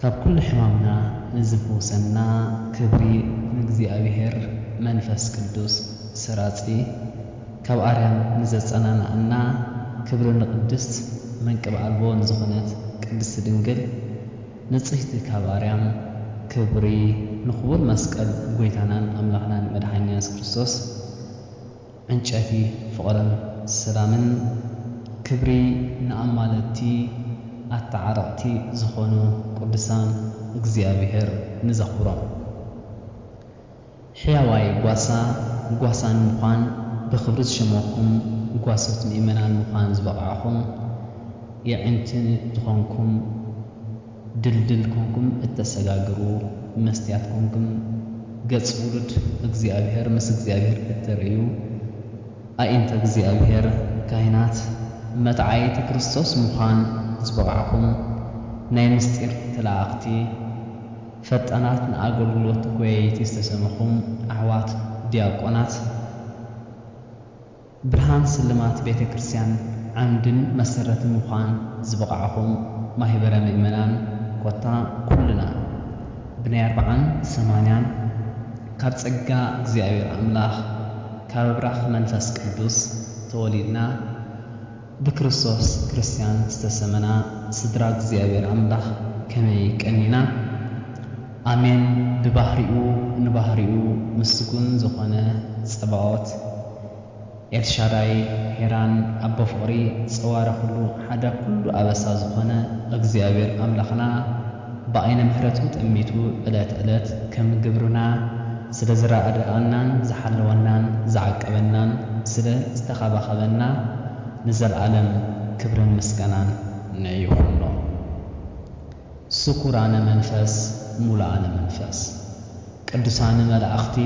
ካብ ኩሉ ሕማምና ንዝፈውሰና ክብሪ ንእግዚኣብሔር መንፈስ ቅዱስ ሰራጺ ካብ ኣርያም ንዘጸናንዓና ክብሪ ንቅድስት መንቅብ ኣልቦ ንዝኾነት ቅድስት ድንግል ንጽህቲ ካብ ኣርያም ክብሪ ንክቡር መስቀል ጎይታናን ኣምላኽናን መድሓኒና የሱስ ክርስቶስ ዕንጨቲ ፍቕርን ሰላምን ክብሪ ንኣማለድቲ ኣታዓረቕቲ ዝኾኑ ቅዱሳን እግዚኣብሔር ንዘኽብሮም ሕያዋይ ጓሳ ጓሳን ምዃን ብኽብሪ ዝሸመኩም ጓሶት ምእመናን ምዃን ዝበቕዕኹም የዒንቲ ዝኾንኩም ድልድል ኮንኩም እተሰጋግሩ መስትያት ኮንኩም ገጽ ውሉድ እግዚኣብሔር ምስ እግዚኣብሔር እተርእዩ ኣኢንተ እግዚኣብሔር ካህናት መትዓይቲ ክርስቶስ ምዃን ዝበቓዕኩም ናይ ምስጢር ተለኣኣኽቲ ፈጣናት ንኣገልግሎት ጎየይቲ ዝተሰመኹም ኣሕዋት ዲያቆናት ብርሃን ስልማት ቤተ ክርስቲያን ዓምድን መሰረትን ምዃን ዝበቓዕኹም ማሂበረ ምእመናን ኮታ ኩልና ብናይ ኣርብዓን ሰማንያን ካብ ጸጋ እግዚኣብሔር ኣምላኽ ካብ ኣብራኽ መንፈስ ቅዱስ ተወሊድና ብክርስቶስ ክርስትያን ዝተሰመና ስድራ እግዚኣብሔር ኣምላኽ ከመይ ቀኒና። ኣሜን ብባህሪኡ ንባህሪኡ ምስጉን ዝኾነ ጸባኦት ኤልሻዳይ ሄራን ኣቦ ፍቕሪ ጸዋረ ኩሉ ሓደ ኩሉ ኣበሳ ዝኾነ እግዚኣብሔር ኣምላኽና፣ ብዓይነ ምሕረቱ ጠሚቱ ዕለት ዕለት ከም ግብርና ስለ ዝራኣደኣናን ዝሓለወናን ዝዓቀበናን ስለ ዝተኻባኸበና ንዘልኣለም ክብርን ምስጋናን ን ይኹኖ ስኩራነ መንፈስ ሙሉኣነ መንፈስ ቅዱሳን መላእኽቲ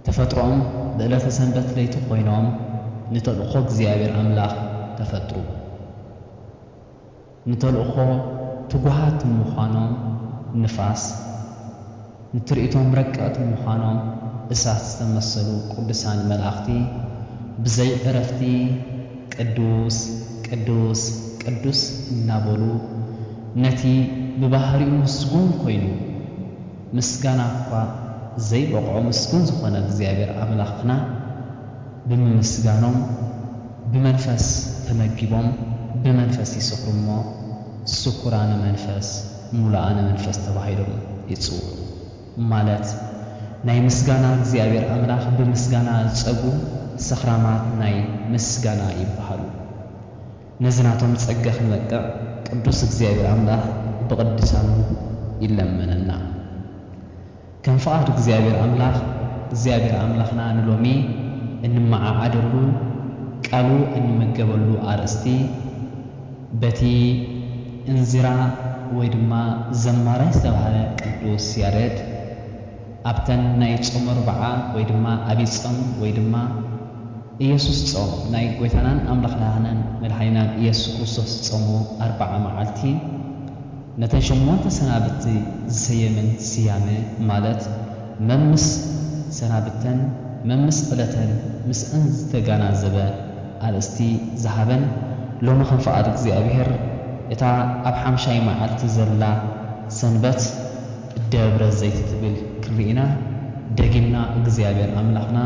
ተፈጥሮኦም ብእለተ ሰንበት ለይቲ ኮይኖም ንተልእኾ እግዚኣብሔር ኣምላኽ ተፈጥሩ። ንተልእኾ ትጉሃት ምዃኖም ንፋስ፣ ንትርኢቶም ረቀቕቲ ምዃኖም እሳት ዝተመሰሉ ቅዱሳን መላእኽቲ ብዘይ ዕረፍቲ ቅዱስ ቅዱስ ቅዱስ እናበሉ ነቲ ብባህሪኡ ምስጉን ኮይኑ ምስጋና እኳ ዘይበቕዖ ምስጉን ዝኾነ እግዚኣብሔር ኣምላኽና ብምምስጋኖም ብመንፈስ ተመጊቦም ብመንፈስ ይሰኽሩ እሞ ስኩራነ መንፈስ ሙሉኣነ መንፈስ ተባሂሎም ይጽውዑ ማለት ናይ ምስጋና እግዚኣብሔር ኣምላኽ ብምስጋና ዝጸግቡ ሰኽራማት ናይ ምስጋና ይበሃሉ ነዚ ናቶም ጸጋ ክንበቅዕ ቅዱስ እግዚኣብሔር ኣምላኽ ብቅድሳኑ ይለመነና። ከም ፍቓድ እግዚኣብሔር ኣምላኽ እግዚኣብሔር ኣምላኽና ንሎሚ እንመዓዓደሉ ቃሉ እንመገበሉ ኣርእስቲ በቲ እንዚራ ወይ ድማ ዘማራይ ዝተብሃለ ቅዱስ ያሬድ ኣብተን ናይ ጾመ ኣርብዓ ወይ ድማ ኣብይ ጾም ወይ ድማ ኢየሱስ ጾም ናይ ጐይታናን ኣምላኽናህንን መድኃኒናን ኢየሱስ ክርስቶስ ዝጾሞ ኣርብዓ መዓልቲ ነተን ሸሞንተ ሰናብቲ ዝሰየመን ስያመ ማለት መምስ ሰናብተን መምስ ዕለተን ምስኣን ዝተጋናዘበ ኣርእስቲ ዝሃበን ሎሚ ከም ፍቓድ እግዚኣብሔር እታ ኣብ ሓምሻይ መዓልቲ ዘላ ሰንበት ደብረ ዘይት ትብል ክንርኢና ደጊምና እግዚኣብሔር ኣምላኽና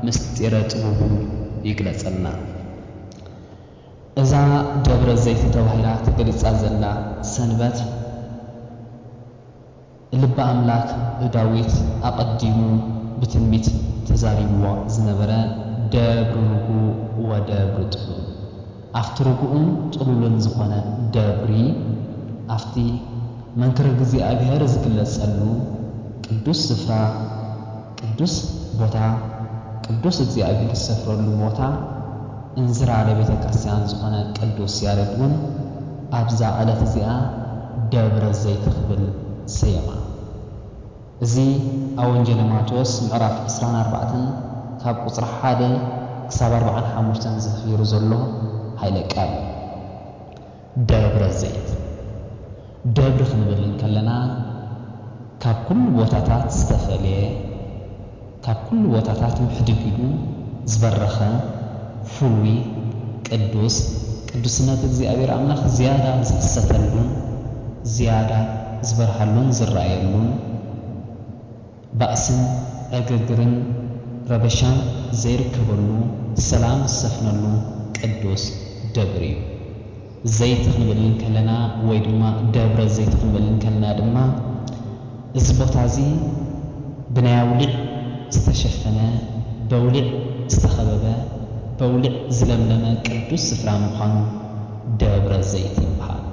ምስጢረ ጥቡቡ ይግለጸልና። እዛ ደብረ ዘይቲ ተባሂላ ተገሊጻ ዘላ ሰንበት፣ ልበ ኣምላክ ዳዊት ኣቐዲሙ ብትንቢት ተዛሪብዋ ዝነበረ ደብሪ ርጉእ ወደብሪ ጥሉል፣ ኣብቲ ርጉእን ጥሉልን ዝኾነ ደብሪ፣ ኣብቲ መንክር እግዚኣብሔር ዝግለጸሉ ቅዱስ ስፍራ፣ ቅዱስ ቦታ ቅዱስ እግዚኣብሔር ዝሰፍረሉ ቦታ እንዝራለ ቤተ ክርስቲያን ዝኾነ ቅዱስ ያሬድ ውን ኣብዛ ዕለት እዚኣ ደብረ ዘይት ክብል ሰየማ። እዚ ኣብ ወንጌለ ማቴዎስ ምዕራፍ ዕስራን ኣርባዕተን ካብ ቁጽሪ ሓደ ክሳብ ኣርብዓን ሓሙሽተን ዝፍፊሩ ዘሎ ኃይለ ቃል እዩ። ደብረ ዘይት ደብሪ ክንብል እንከለና ካብ ኩሉ ቦታታት ዝተፈልየ፣ ካብ ኩሉ ቦታታት ምሕድግ ኢሉ ዝበረኸ፣ ፍሉይ፣ ቅዱስ፣ ቅዱስነት እግዚኣብሔር ኣምላኽ ዝያዳ ዝኽሰተሉን ዝያዳ ዝበርሃሉን ዝረኣየሉን፣ ባእስን ዕግርግርን ረበሻን ዘይርከበሉ ሰላም ዝሰፍነሉ ቅዱስ ደብር እዩ። ዘይት ክንብል እንከለና ወይ ድማ ደብረ ዘይት ክንብል እንከለና ድማ እዚ ቦታ እዚ ብናይ ኣውሊዕ ዝተሸፈነ በውሊዕ ዝተኸበበ በውሊዕ ዝለምለመ ቅዱስ ስፍራ ምዃኑ ደብረ ዘይት ይበሃል።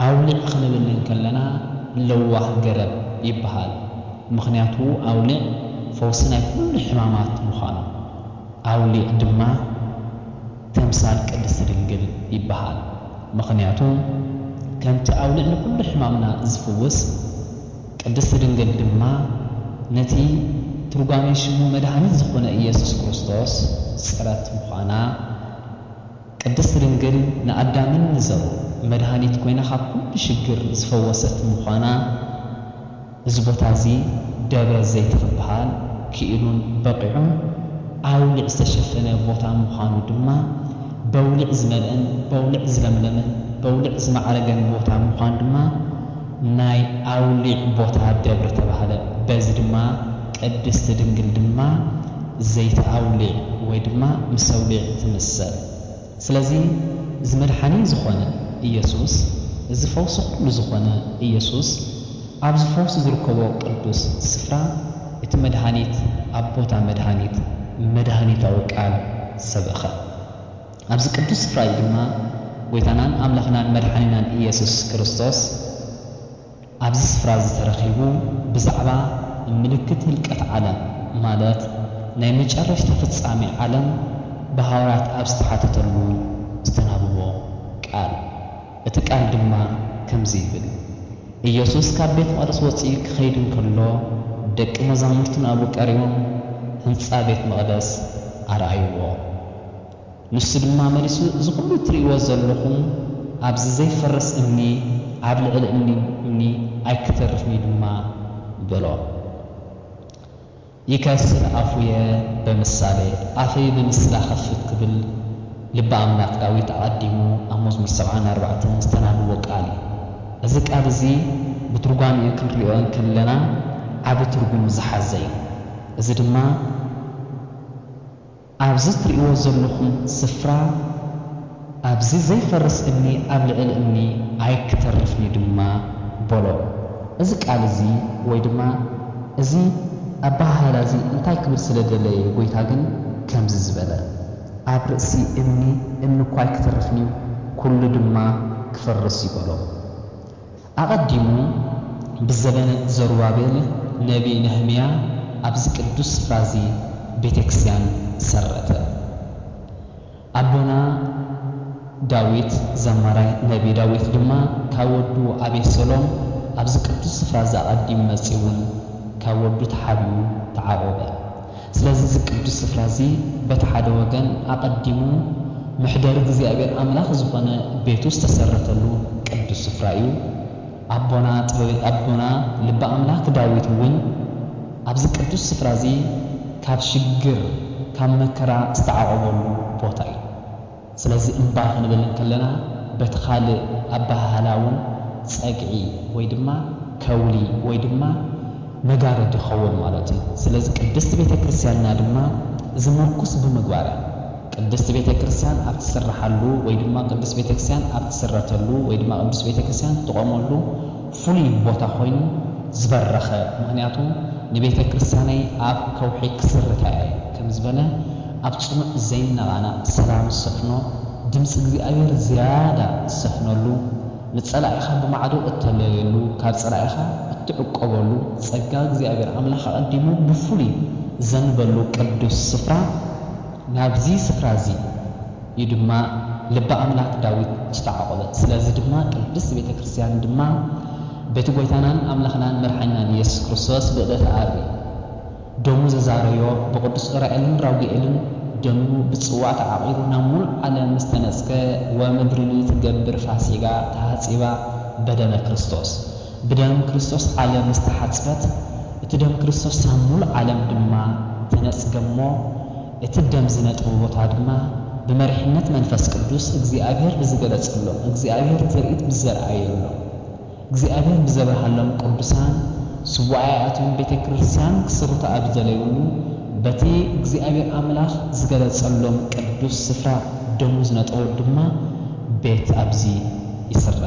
ኣውሊዕ ክንብል እንከለና ለዋህ ገረብ ይበሃል ምኽንያቱ ኣውሊዕ ፈውሲ ናይ ኩሉ ሕማማት ምዃኑ። ኣውሊዕ ድማ ተምሳል ቅድስቲ ድንግል ይበሃል ምኽንያቱ ከምቲ ኣውሊዕ ንኩሉ ሕማምና ዝፍውስ ቅድስቲ ድንግል ድማ ነቲ ትርጓሜ ሽሙ መድኃኒት ዝኾነ ኢየሱስ ክርስቶስ ጽረት ምዃና ቅድስት ድንግል ንኣዳምን ንዘርኡ መድኃኒት ኮይና ካብ ኩሉ ሽግር ዝፈወሰት ምዃና እዚ ቦታ እዚ ደብረ ዘይት ክበሃል ክኢሉን በቒዑን ኣውሊዕ ዝተሸፈነ ቦታ ምዃኑ ድማ በውሊዕ ዝመልእን በውሊዕ ዝለምለምን በውሊዕ ዝማዕረገን ቦታ ምዃኑ ድማ ናይ ኣውሊዕ ቦታ ደብር ተባህለ። በዚ ድማ ቅድስት ድንግል ድማ ዘይተ ኣውሊዕ ወይ ድማ ምስ ኣውሊዕ ትምሰል። ስለዚ እዚ መድሓኒ ዝኾነ ኢየሱስ እዚ ፈውሲ ኩሉ ዝኾነ ኢየሱስ ኣብዚ ፈውሲ ዝርከቦ ቅዱስ ስፍራ እቲ መድሃኒት ኣብ ቦታ መድሃኒት መድሃኒታዊ ቃል ሰበኸ። ኣብዚ ቅዱስ ስፍራ እዚ ድማ ጐይታናን ኣምላኽናን መድሓኒናን ኢየሱስ ክርስቶስ ኣብዚ ስፍራ እዚ ተረኺቡ ብዛዕባ ምልክት ህልቀት ዓለም ማለት ናይ መጨረሽታ ፍጻሜ ዓለም ብሃዋርያት ኣብ ዝተሓተተሉ ዝተናብቦ ቃል እቲ ቃል ድማ ከምዚ ይብል ኢየሱስ ካብ ቤት መቕደስ ወጺኡ ክኸይድ እንከሎ ደቂ መዛሙርቱ ናብኡ ቀሪቦም ህንጻ ቤት መቕደስ ኣርኣይዎ። ንሱ ድማ መሊሱ፣ እዚ ዅሉ እትርእይዎ ዘሎኹም ኣብዚ ዘይፈርስ እምኒ ኣብ ልዕሊ እምኒ እምኒ ኣይኪተርፍን እዩ ድማ በሎ። ይከስር ኣፉየ በምሳሌ ኣፈይ ብምስላ እኸፍት ክብል ልቢ ኣምላክ ዳዊት ኣቐዲሙ ኣብ መዝሙር ሰብዓን ኣርባዕተን ዝተናብቦ ቃል እዩ። እዚ ቃል እዚ ብትርጓሜኡ ክንርእዮ እንክለና ዓቢ ትርጉም ዝሓዘ እዩ። እዚ ድማ። ኣብዚ ትርእይዎ ዘለኹም ስፍራ ኣብዚ ዘይፈርስ እምኒ ኣብ ልዕሊ እምኒ ኣይክተርፍን'ዩ ድማ በሎ። እዚ ቃል እዚ ወይ ድማ እዚ ኣበሃህላ እዚ እንታይ ክብል ስለ ደለየ ጐይታ ግን ከምዚ ዝበለ? ኣብ ርእሲ እምኒ እምኒ እኳ ኣይክተርፍን'ዩ፣ ኵሉ ድማ ክፈርስ'ዩ በሎ። ኣቐዲሙ ብዘበነ ዘሩባቤል ነብዪ ነህምያ ኣብዚ ቅዱስ ስፍራ እዚ ቤተ ክርስቲያን ሰረተ። ኣቦና ዳዊት ዘማራይ ነብዪ ዳዊት ድማ ካብ ወዱ ኣቤሴሎም ኣብዚ ቅዱስ ስፍራ እዚ ኣቐዲሙ መጺኡ እውን ካብ ወዱ ተሓቢኡ ተዓቖበ። ስለዚ እዚ ቅዱስ ስፍራ እዚ በቲ ሓደ ወገን ኣቐዲሙ መሕደሪ እግዚኣብሔር ኣምላኽ ዝኾነ ቤቱ ዝተሰረተሉ ቅዱስ ስፍራ እዩ። ኣቦና ጥበበ ኣቦና ልበ ኣምላክ ዳዊት እውን ኣብዚ ቅዱስ ስፍራ እዚ ካብ ሽግር ካብ መከራ ዝተዓቖበሉ ቦታ እዩ። ስለዚ እምባ ክንብል እንክለና በቲ ካልእ ኣበሃህላ እውን ጸግዒ ወይ ድማ ከውሊ ወይ ድማ መጋረድ ይኸውን ማለት እዩ። ስለዚ ቅድስት ቤተ ክርስቲያንና ድማ እዚ ምርኩስ ብምግባር እያ። ቅድስት ቤተ ክርስቲያን ኣብ ትስርሓሉ ወይ ድማ ቅዱስ ቤተ ክርስቲያን ኣብ ትስረተሉ ወይ ድማ ቅዱስ ቤተ ክርስቲያን ትቖመሉ ፍሉይ ቦታ ኮይኑ ዝበረኸ ምኽንያቱ ንቤተ ክርስቲያነይ ኣብ ከውሒ ክስርታ እየ ከም ዝበለ ኣብ ጽኑዕ ዘይነቓነቕ ሰላም ዝሰፍኖ ድምጺ እግዚኣብሔር ዝያዳ ዝሰፍነሉ ንጸላኢኻ ብማዕዶ እተለልየሉ ካብ ጸላኢኻ እትዕቆበሉ ጸጋ እግዚኣብሔር ኣምላኽ ኣቐዲሙ ብፍሉይ ዝዘንበሉ ቅዱስ ስፍራ ናብዚ ስፍራ እዚ እዩ ድማ ልበ ኣምላክ ዳዊት ዝተዓቆበት ስለዚ ድማ ቅድስት ቤተ ክርስትያን ድማ በቲ ጎይታናን ኣምላክናን መድሓኒናን ኢየሱስ ክርስቶስ ብእደተ ኣሪ ደሙ ዘዛረዮ ብቅዱስ ዑራኤልን ራጉኤልን ደሙ ብጽዋ ተዓቂሩ ናብ ምሉእ ዓለም ምስ ተነጽገ ወምድርኒ ትገብር ፋሲጋ ተሃጺባ በደመ ክርስቶስ ብደም ክርስቶስ ዓለም ምስ ተሓጽበት እቲ ደም ክርስቶስ ሳብ ምሉእ ዓለም ድማ ተነጽገ እሞ እቲ ደም ዝነጥቡ ቦታ ድማ ብመሪሕነት መንፈስ ቅዱስ እግዚኣብሔር ብዝገለጸሎም፣ እግዚኣብሔር ትርኢት ብዘርኣየሎም፣ እግዚኣብሔር ብዘብርሃሎም ቅዱሳን ሱባኤኣቶም ቤተ ክርስቲያን ክስርቱ ኣብ ዝደለዩሉ በቲ እግዚኣብሔር ኣምላኽ ዝገለጸሎም ቅዱስ ስፍራ ደሙ ዝነጠወሉ ድማ ቤት ኣብዚ ይስረ።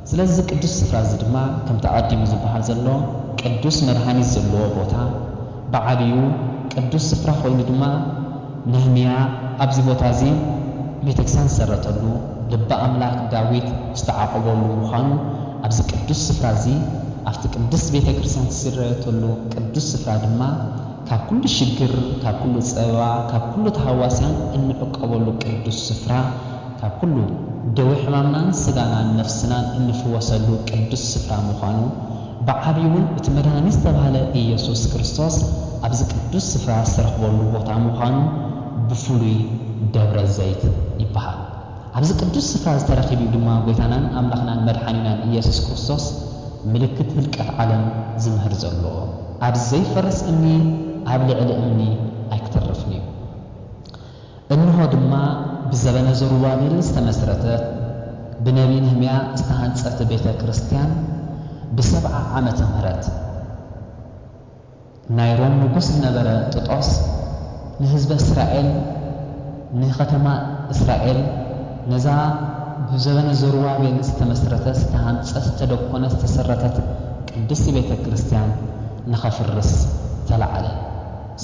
ስለዚ እዚ ቅዱስ ስፍራ እዚ ድማ ከምቲ ኣቐዲሙ ዝበሃል ዘሎ ቅዱስ መድኃኒት ዘለዎ ቦታ፣ ብዓብዩ ቅዱስ ስፍራ ኮይኑ ድማ ነህምያ ኣብዚ ቦታ እዚ ቤተክስያን ዝሰረተሉ፣ ልቢ ኣምላክ ዳዊት ዝተዓቆበሉ ምዃኑ ኣብዚ ቅዱስ ስፍራ እዚ ኣብቲ ቅድስት ቤተ ክርስትያን ዝስረየተሉ ቅዱስ ስፍራ ድማ ካብ ኩሉ ሽግር ካብ ኩሉ ጸበባ ካብ ኩሉ ተሃዋስያን እንዕቆበሉ ቅዱስ ስፍራ ካብ ኩሉ ደዌ ሕማምናን ስጋናን ነፍስናን እንፍወሰሉ ቅዱስ ስፍራ ምዃኑ ብዓቢውን እቲ መድኃኒ ዝተባህለ ኢየሱስ ክርስቶስ ኣብዚ ቅዱስ ስፍራ ዝተረኽበሉ ቦታ ምዃኑ ብፍሉይ ደብረ ዘይት ይበሃል። ኣብዚ ቅዱስ ስፍራ እዚ ተረኺቡ'ዩ ድማ ጐይታናን ኣምላኽናን መድኃኒናን ኢየሱስ ክርስቶስ ምልክት ህልቀት ዓለም ዝምህር ዘሎ። ኣብዚ ዘይፈርስ እምኒ ኣብ ልዕሊ እምኒ ኣይክተርፍን'ዩ። እንሆ ድማ ብዘበነ ዘሩባቤል ዝተመሥረተት ብነቢይ ነህምያ ዝተሃንጸት ቤተ ክርስቲያን ብሰብዓ ዓመተ ምህረት ናይ ሮም ንጉሥ ዝነበረ ጥጦስ ንሕዝበ እስራኤል ንከተማ እስራኤል ነዛ ብዘበነ ዘሩባቤል ዝተመሥረተት ዝተሃንጸት ዝተደኮነት ዝተሠረተት ቅድስቲ ቤተ ክርስቲያን ንከፍርስ ተላዕለ።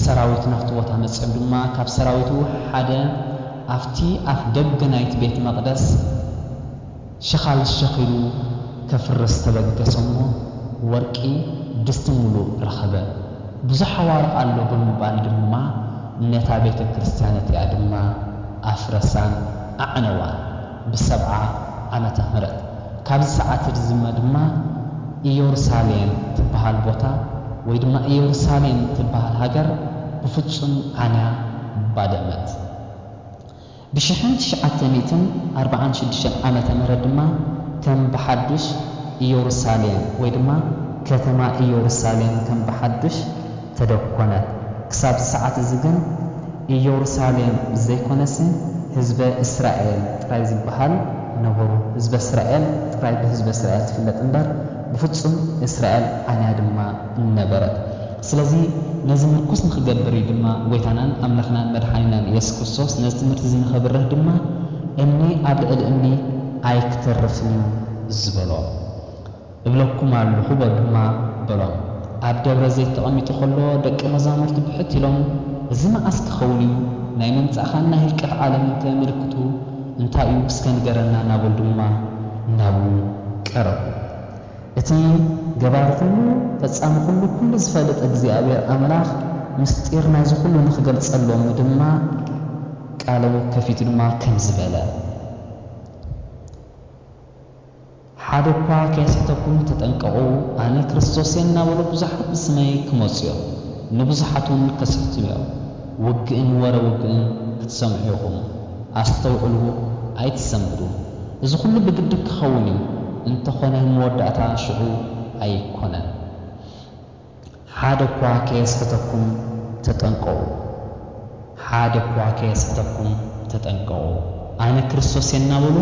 ሰራዊት ናብቲ ቦታ መጺኦም ድማ ካብ ሰራዊቱ ሓደ ኣብቲ ኣፍ ደገ ናይቲ ቤት መቕደስ ሸኻል ሸኺሉ ከፍርስ ተበገሰ እሞ ወርቂ ድስቲ ምሉእ ረኸበ። ብዙሕ ኣዋርቕ ኣሎ ብምባል ድማ ነታ ቤተ ክርስቲያን እቲኣ ድማ ኣፍረሳን ኣዕነዋን። ብሰብዓ ዓመተ ምህረት ካብዚ ሰዓት ርዝመ ድማ ኢዮሩሳሌም ትበሃል ቦታ ወይ ድማ ኢዮሩሳሌም ትበሃል ሃገር ብፍጹም ዓንያ ባደመት። ብሽሕን ትሽዓተ ሚእትን ኣርብዓን ሽዱሽተን ዓመተ ምህረት ድማ ከም ብሓዱሽ ኢዮሩሳሌም ወይ ድማ ከተማ ኢዮሩሳሌም ከም ብሓዱሽ ተደኮነት። ክሳብ እዚ ሰዓት እዚ ግን ኢዮሩሳሌም ዘይኮነሲ ህዝበ እስራኤል ጥራይ ዝበሃል ነበሩ። ህዝበ እስራኤል ጥራይ ብህዝበ እስራኤል ትፍለጥ እምበር ብፍጹም እስራኤል ዓይና ድማ ነበረት። ስለዚ ነዚ ምርኩስ ንክገብር እዩ ድማ ጎይታናን ኣምላኽናን መድሓኒናን ኢየሱስ ክርስቶስ ነዚ ትምህርቲ እዚ ንከብርህ ድማ እምኒ ኣብ ልዕሊ እምኒ ኣይክተርፍን እዩ ዝበሎ። እብለኩም ኣሎኹ በሉ ድማ በሎም። ኣብ ደብረ ዘይት ተቐሚጡ ኸሎ ደቀ መዛሙርቱ ብሕት ኢሎም እዚ መዓስ ኪኸውን እዩ? ናይ ምምጻእኻን ናይ ህልቀት ዓለምንከ ምልክቱ እንታይ እዩ እስከ ንገረና እናበሉ ድማ ናብኡ ቀረቡ። እቲ ገባሪ ኹሉ ፈጻሚ ኹሉ ኩሉ ዝፈልጥ እግዚኣብሔር ኣምላኽ ምስጢር ናይዚ ኹሉ ንኽገልጸሎም ድማ ቃሉ ከፊቱ ድማ ከምዚ በለ። ሓደ እኳ ከየስሕተኩም ተጠንቀቑ፣ ኣነ ክርስቶስ እየ እናበሉ ብዙሓት ብስመይ ክመጹ እዮም፣ ንብዙሓትውን ከስሕቱ እዮም። ውግእን ወረ ውግእን ክትሰምዑ ኢኹም፣ ኣስተውዕሉ፣ ኣይትሰንብዱ። እዚ ዅሉ ብግዲ ኪኸውን እዩ፣ እንተ ዀነ መወዳእታ ሽዑ ኣይኰነን። ሓደ እኳ ከየስሕተኩም ተጠንቀቑ፣ ሓደ እኳ ከየስሕተኩም ተጠንቀቑ፣ ኣነ ክርስቶስ እየ እናበሉ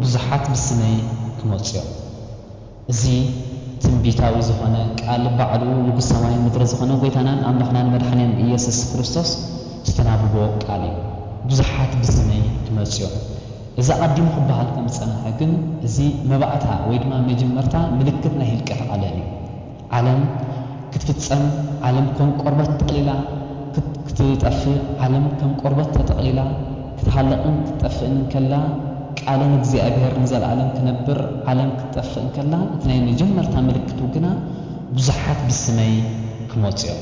ብዙሓት ብስመይ ክመጹ እዮም። እዚ ትንቢታዊ ዝኾነ ቃል ባዕሉ ንጉሥ ሰማይን ምድርን ዝኾነ ጐይታናን ኣምላኽናን መድሓኒናን ኢየሱስ ክርስቶስ ዝተናብቦ ቃል እዩ። ብዙሓት ብስመይ ክመጹ እዮም። እዚ ኣቐዲሙ ክበሃል ከም ዝጸንሐ ግን እዚ መባእታ ወይ ድማ መጀመርታ ምልክት ናይ ህልቀት ዓለም እዩ። ዓለም ክትፍጸም ዓለም ከም ቆርበት ጠቕሊላ ክትጠፍእ ዓለም ከም ቆርበት ተጠቕሊላ ክትሃልቕን ክትጠፍእን እንከላ ቃልን እግዚኣብሔር ንዘለዓለም ክነብር ዓለም ክትጠፍእ እንከላ እቲ ናይ መጀመርታ ምልክቱ ግና ብዙሓት ብስመይ ክመጹ እዮም።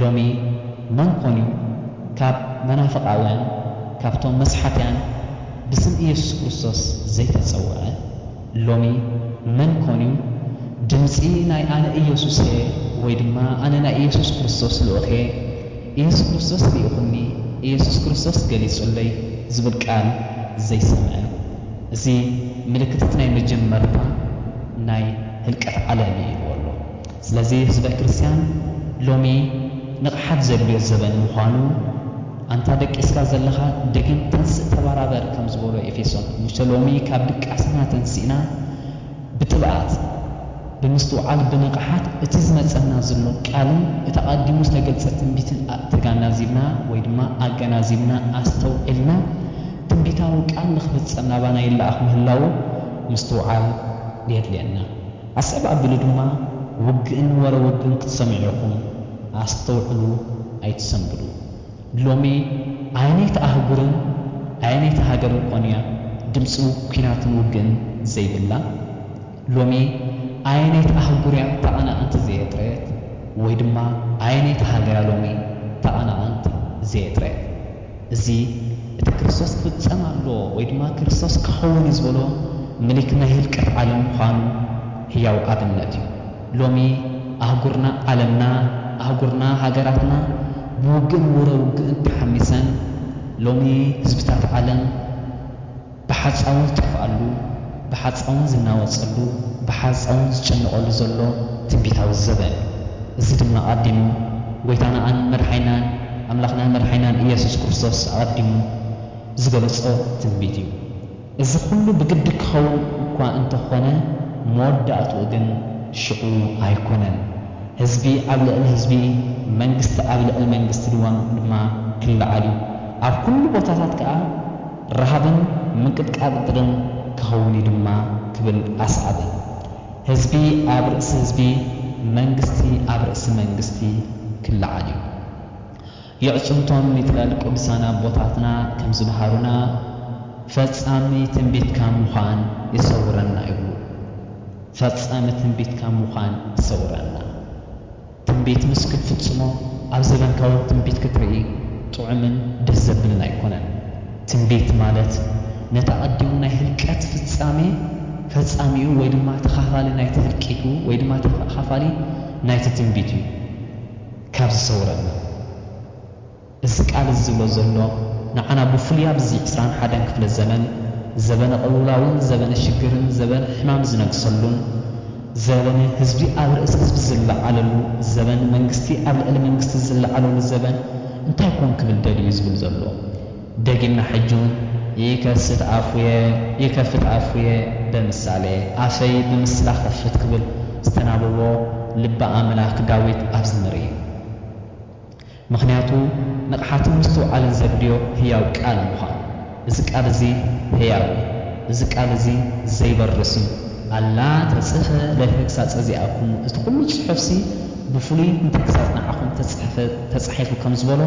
ሎሚ መን ኮንዩ ካብ መናፍቓውያን ካብቶም መስሓትያን ብስም ኢየሱስ ክርስቶስ ዘይተጸውዐ? ሎሚ መን ኮንዩ ድምጺ ናይ ኣነ ኢየሱስየ ወይ ድማ ኣነ ናይ ኢየሱስ ክርስቶስ ልኡኽየ፣ ኢየሱስ ክርስቶስ ልኢኹኒ፣ ኢየሱስ ክርስቶስ ገሊጹለይ ዝብል ቃል ዘይሰምዐ? እዚ ምልክትት ናይ መጀመርታ ናይ ህልቀት ዓለም እዩ ኢልዎ ኣሎ። ስለዚ ህዝበ ክርስትያን ሎሚ ንቕሓት ዘድልዮ ዘበን ምዃኑ ኣንታ ደቂስካ ዘለኻ ደጊም ተንስእ ተባራበር ከም ዝበሎ ኤፌሶን ሙሴ ሎሚ ካብ ድቃስና ተንሲእና ብትብኣት ብምስትውዓል ብንቕሓት እቲ ዝመጸና ዝሎ ቃልን እቲ ኣቐዲሙ ዝተገልጸ ትንቢትን ተጋናዚብና ወይ ድማ ኣገናዚብና ኣስተውዒልና ትንቢታዊ ቃል ንክፍጸም ናባና ይለኣኽ ምህላዉ ምስትውዓል የድልየና። ኣስዕብ ኣብሉ ድማ ውግእን ወረ ውግእን ክትሰምዑ ኢኹም ኣስተውዕሉ ኣይትሰንብዱ ሎሚ ኣየነይቲ ኣህጉርን ኣየነይቲ ሃገርን ኮን እያ ድምጺ ኩናትን ውግእን ዘይብላ ሎሚ ኣየነይቲ ኣህጉር እያ ተቐናቐንቲ ዘየጥረየት ወይ ድማ ኣየነይቲ ሃገር እያ ሎሚ ተቐናቐንቲ ዘየጥረየት እዚ እቲ ክርስቶስ ክፍጸም ኣሎ ወይ ድማ ክርስቶስ ክኸውን እዩ ዝበሎ ምልክ ናይ ህልቀት ዓለም ምዃኑ ህያው ኣብነት እዩ። ሎሚ ኣህጉርና፣ ዓለምና፣ ኣህጉርና፣ ሃገራትና ብውግእን ውረ ውግእን ተሓሚሰን፣ ሎሚ ህዝብታት ዓለም፣ ብሓጻውን ዝጠፍኣሉ፣ ብሓጻውን ዝናወጸሉ፣ ብሓጻውን ዝጭነቐሉ ዘሎ ትንቢታዊ ዘበን እዩ። እዚ ድማ ኣቐዲሙ ጐይታናን መድሓኒናን ኣምላኽናን መድሓኒናን ኢየሱስ ክርስቶስ ኣቐዲሙ ዝገለጾ ትንቢት እዩ። እዚ ኩሉ ብግዲ ክኸውን እኳ እንተ ኾነ መወዳእትኡ ግን ሽዑ ኣይኮነን። ህዝቢ ኣብ ልዕሊ ህዝቢ መንግስቲ ኣብ ልዕሊ መንግስቲ ድማ ክለዓል እዩ። ኣብ ኩሉ ቦታታት ከኣ፣ ረሃብን ምንቅጥቃጥ ድርን ክኸውን እዩ ድማ ክብል ኣስዓበ። ህዝቢ ኣብ ርእሲ ህዝቢ፣ መንግስቲ ኣብ ርእሲ መንግስቲ ክለዓል እዩ። የዕጽምቶም ይትረል ቅዱሳን ኣቦታትና ከም ዝመሃሩና ፈጻሚ ትንቢት ካብ ምዃን ይሰውረና ይብሉ። ፈጻሚ ትንቢት ካብ ምዃን ይሰውረና። ትንቢት ምስ ክትፍጽሞ ኣብ ዘበንካ ውን ትንቢት ክትርኢ ጥዑምን ደስ ዘብልን ኣይኮነን። ትንቢት ማለት ነቲ ኣቐዲሙ ናይ ህልቀት ፍጻሜ ፈጻሚኡ ወይ ድማ ተኻፋሊ ናይቲ ህልቂቱ ወይ ድማ ተኻፋሊ ናይቲ ትንቢት እዩ። ካብ ዝሰውረና። እዚ ቃል እዚ ዝብሎ ዘሎ ንዓና ብፍሉይ ኣብዚ ዕስራን ሓደን ክፍለ ዘመን ዘበነ ቅልውላውን ዘበነ ሽግርን ዘበነ ሕማም ዝነግሰሉን ዘበነ ህዝቢ ኣብ ርእሲ ህዝቢ ዝለዓለሉ ዘበን መንግስቲ ኣብ ልዕሊ መንግስቲ ዝለዓለሉ ዘበን እንታይ ኮን ክብል ደልዩ ዝብል ዘሎ ደጊምና ሕጂ ውን ይከስት ኣፉየ ይከፍት ኣፉየ ብምሳሌ ኣፈይ ብምስላ ክኸፍት ክብል ዝተናበቦ ልበ ኣምላክ ዳዊት ኣብዚ ንርኢ። ምኽንያቱ ንቕሓትን ምስትውዓልን ዘድልዮ ህያው ቃል ምዃኑ። እዚ ቃል እዚ ህያው እዩ። እዚ ቃል እዚ ዘይበርስ እዩ። ኣላ ተጽሕፈ ለተግሳጸ ዚኣክሙ፣ እቲ ዅሉ ጽሑፍሲ ብፍሉይ ንተግሳጽ ንዓኹም እተጸሕፈ ተጻሒፉ ከም ዝበሎ፣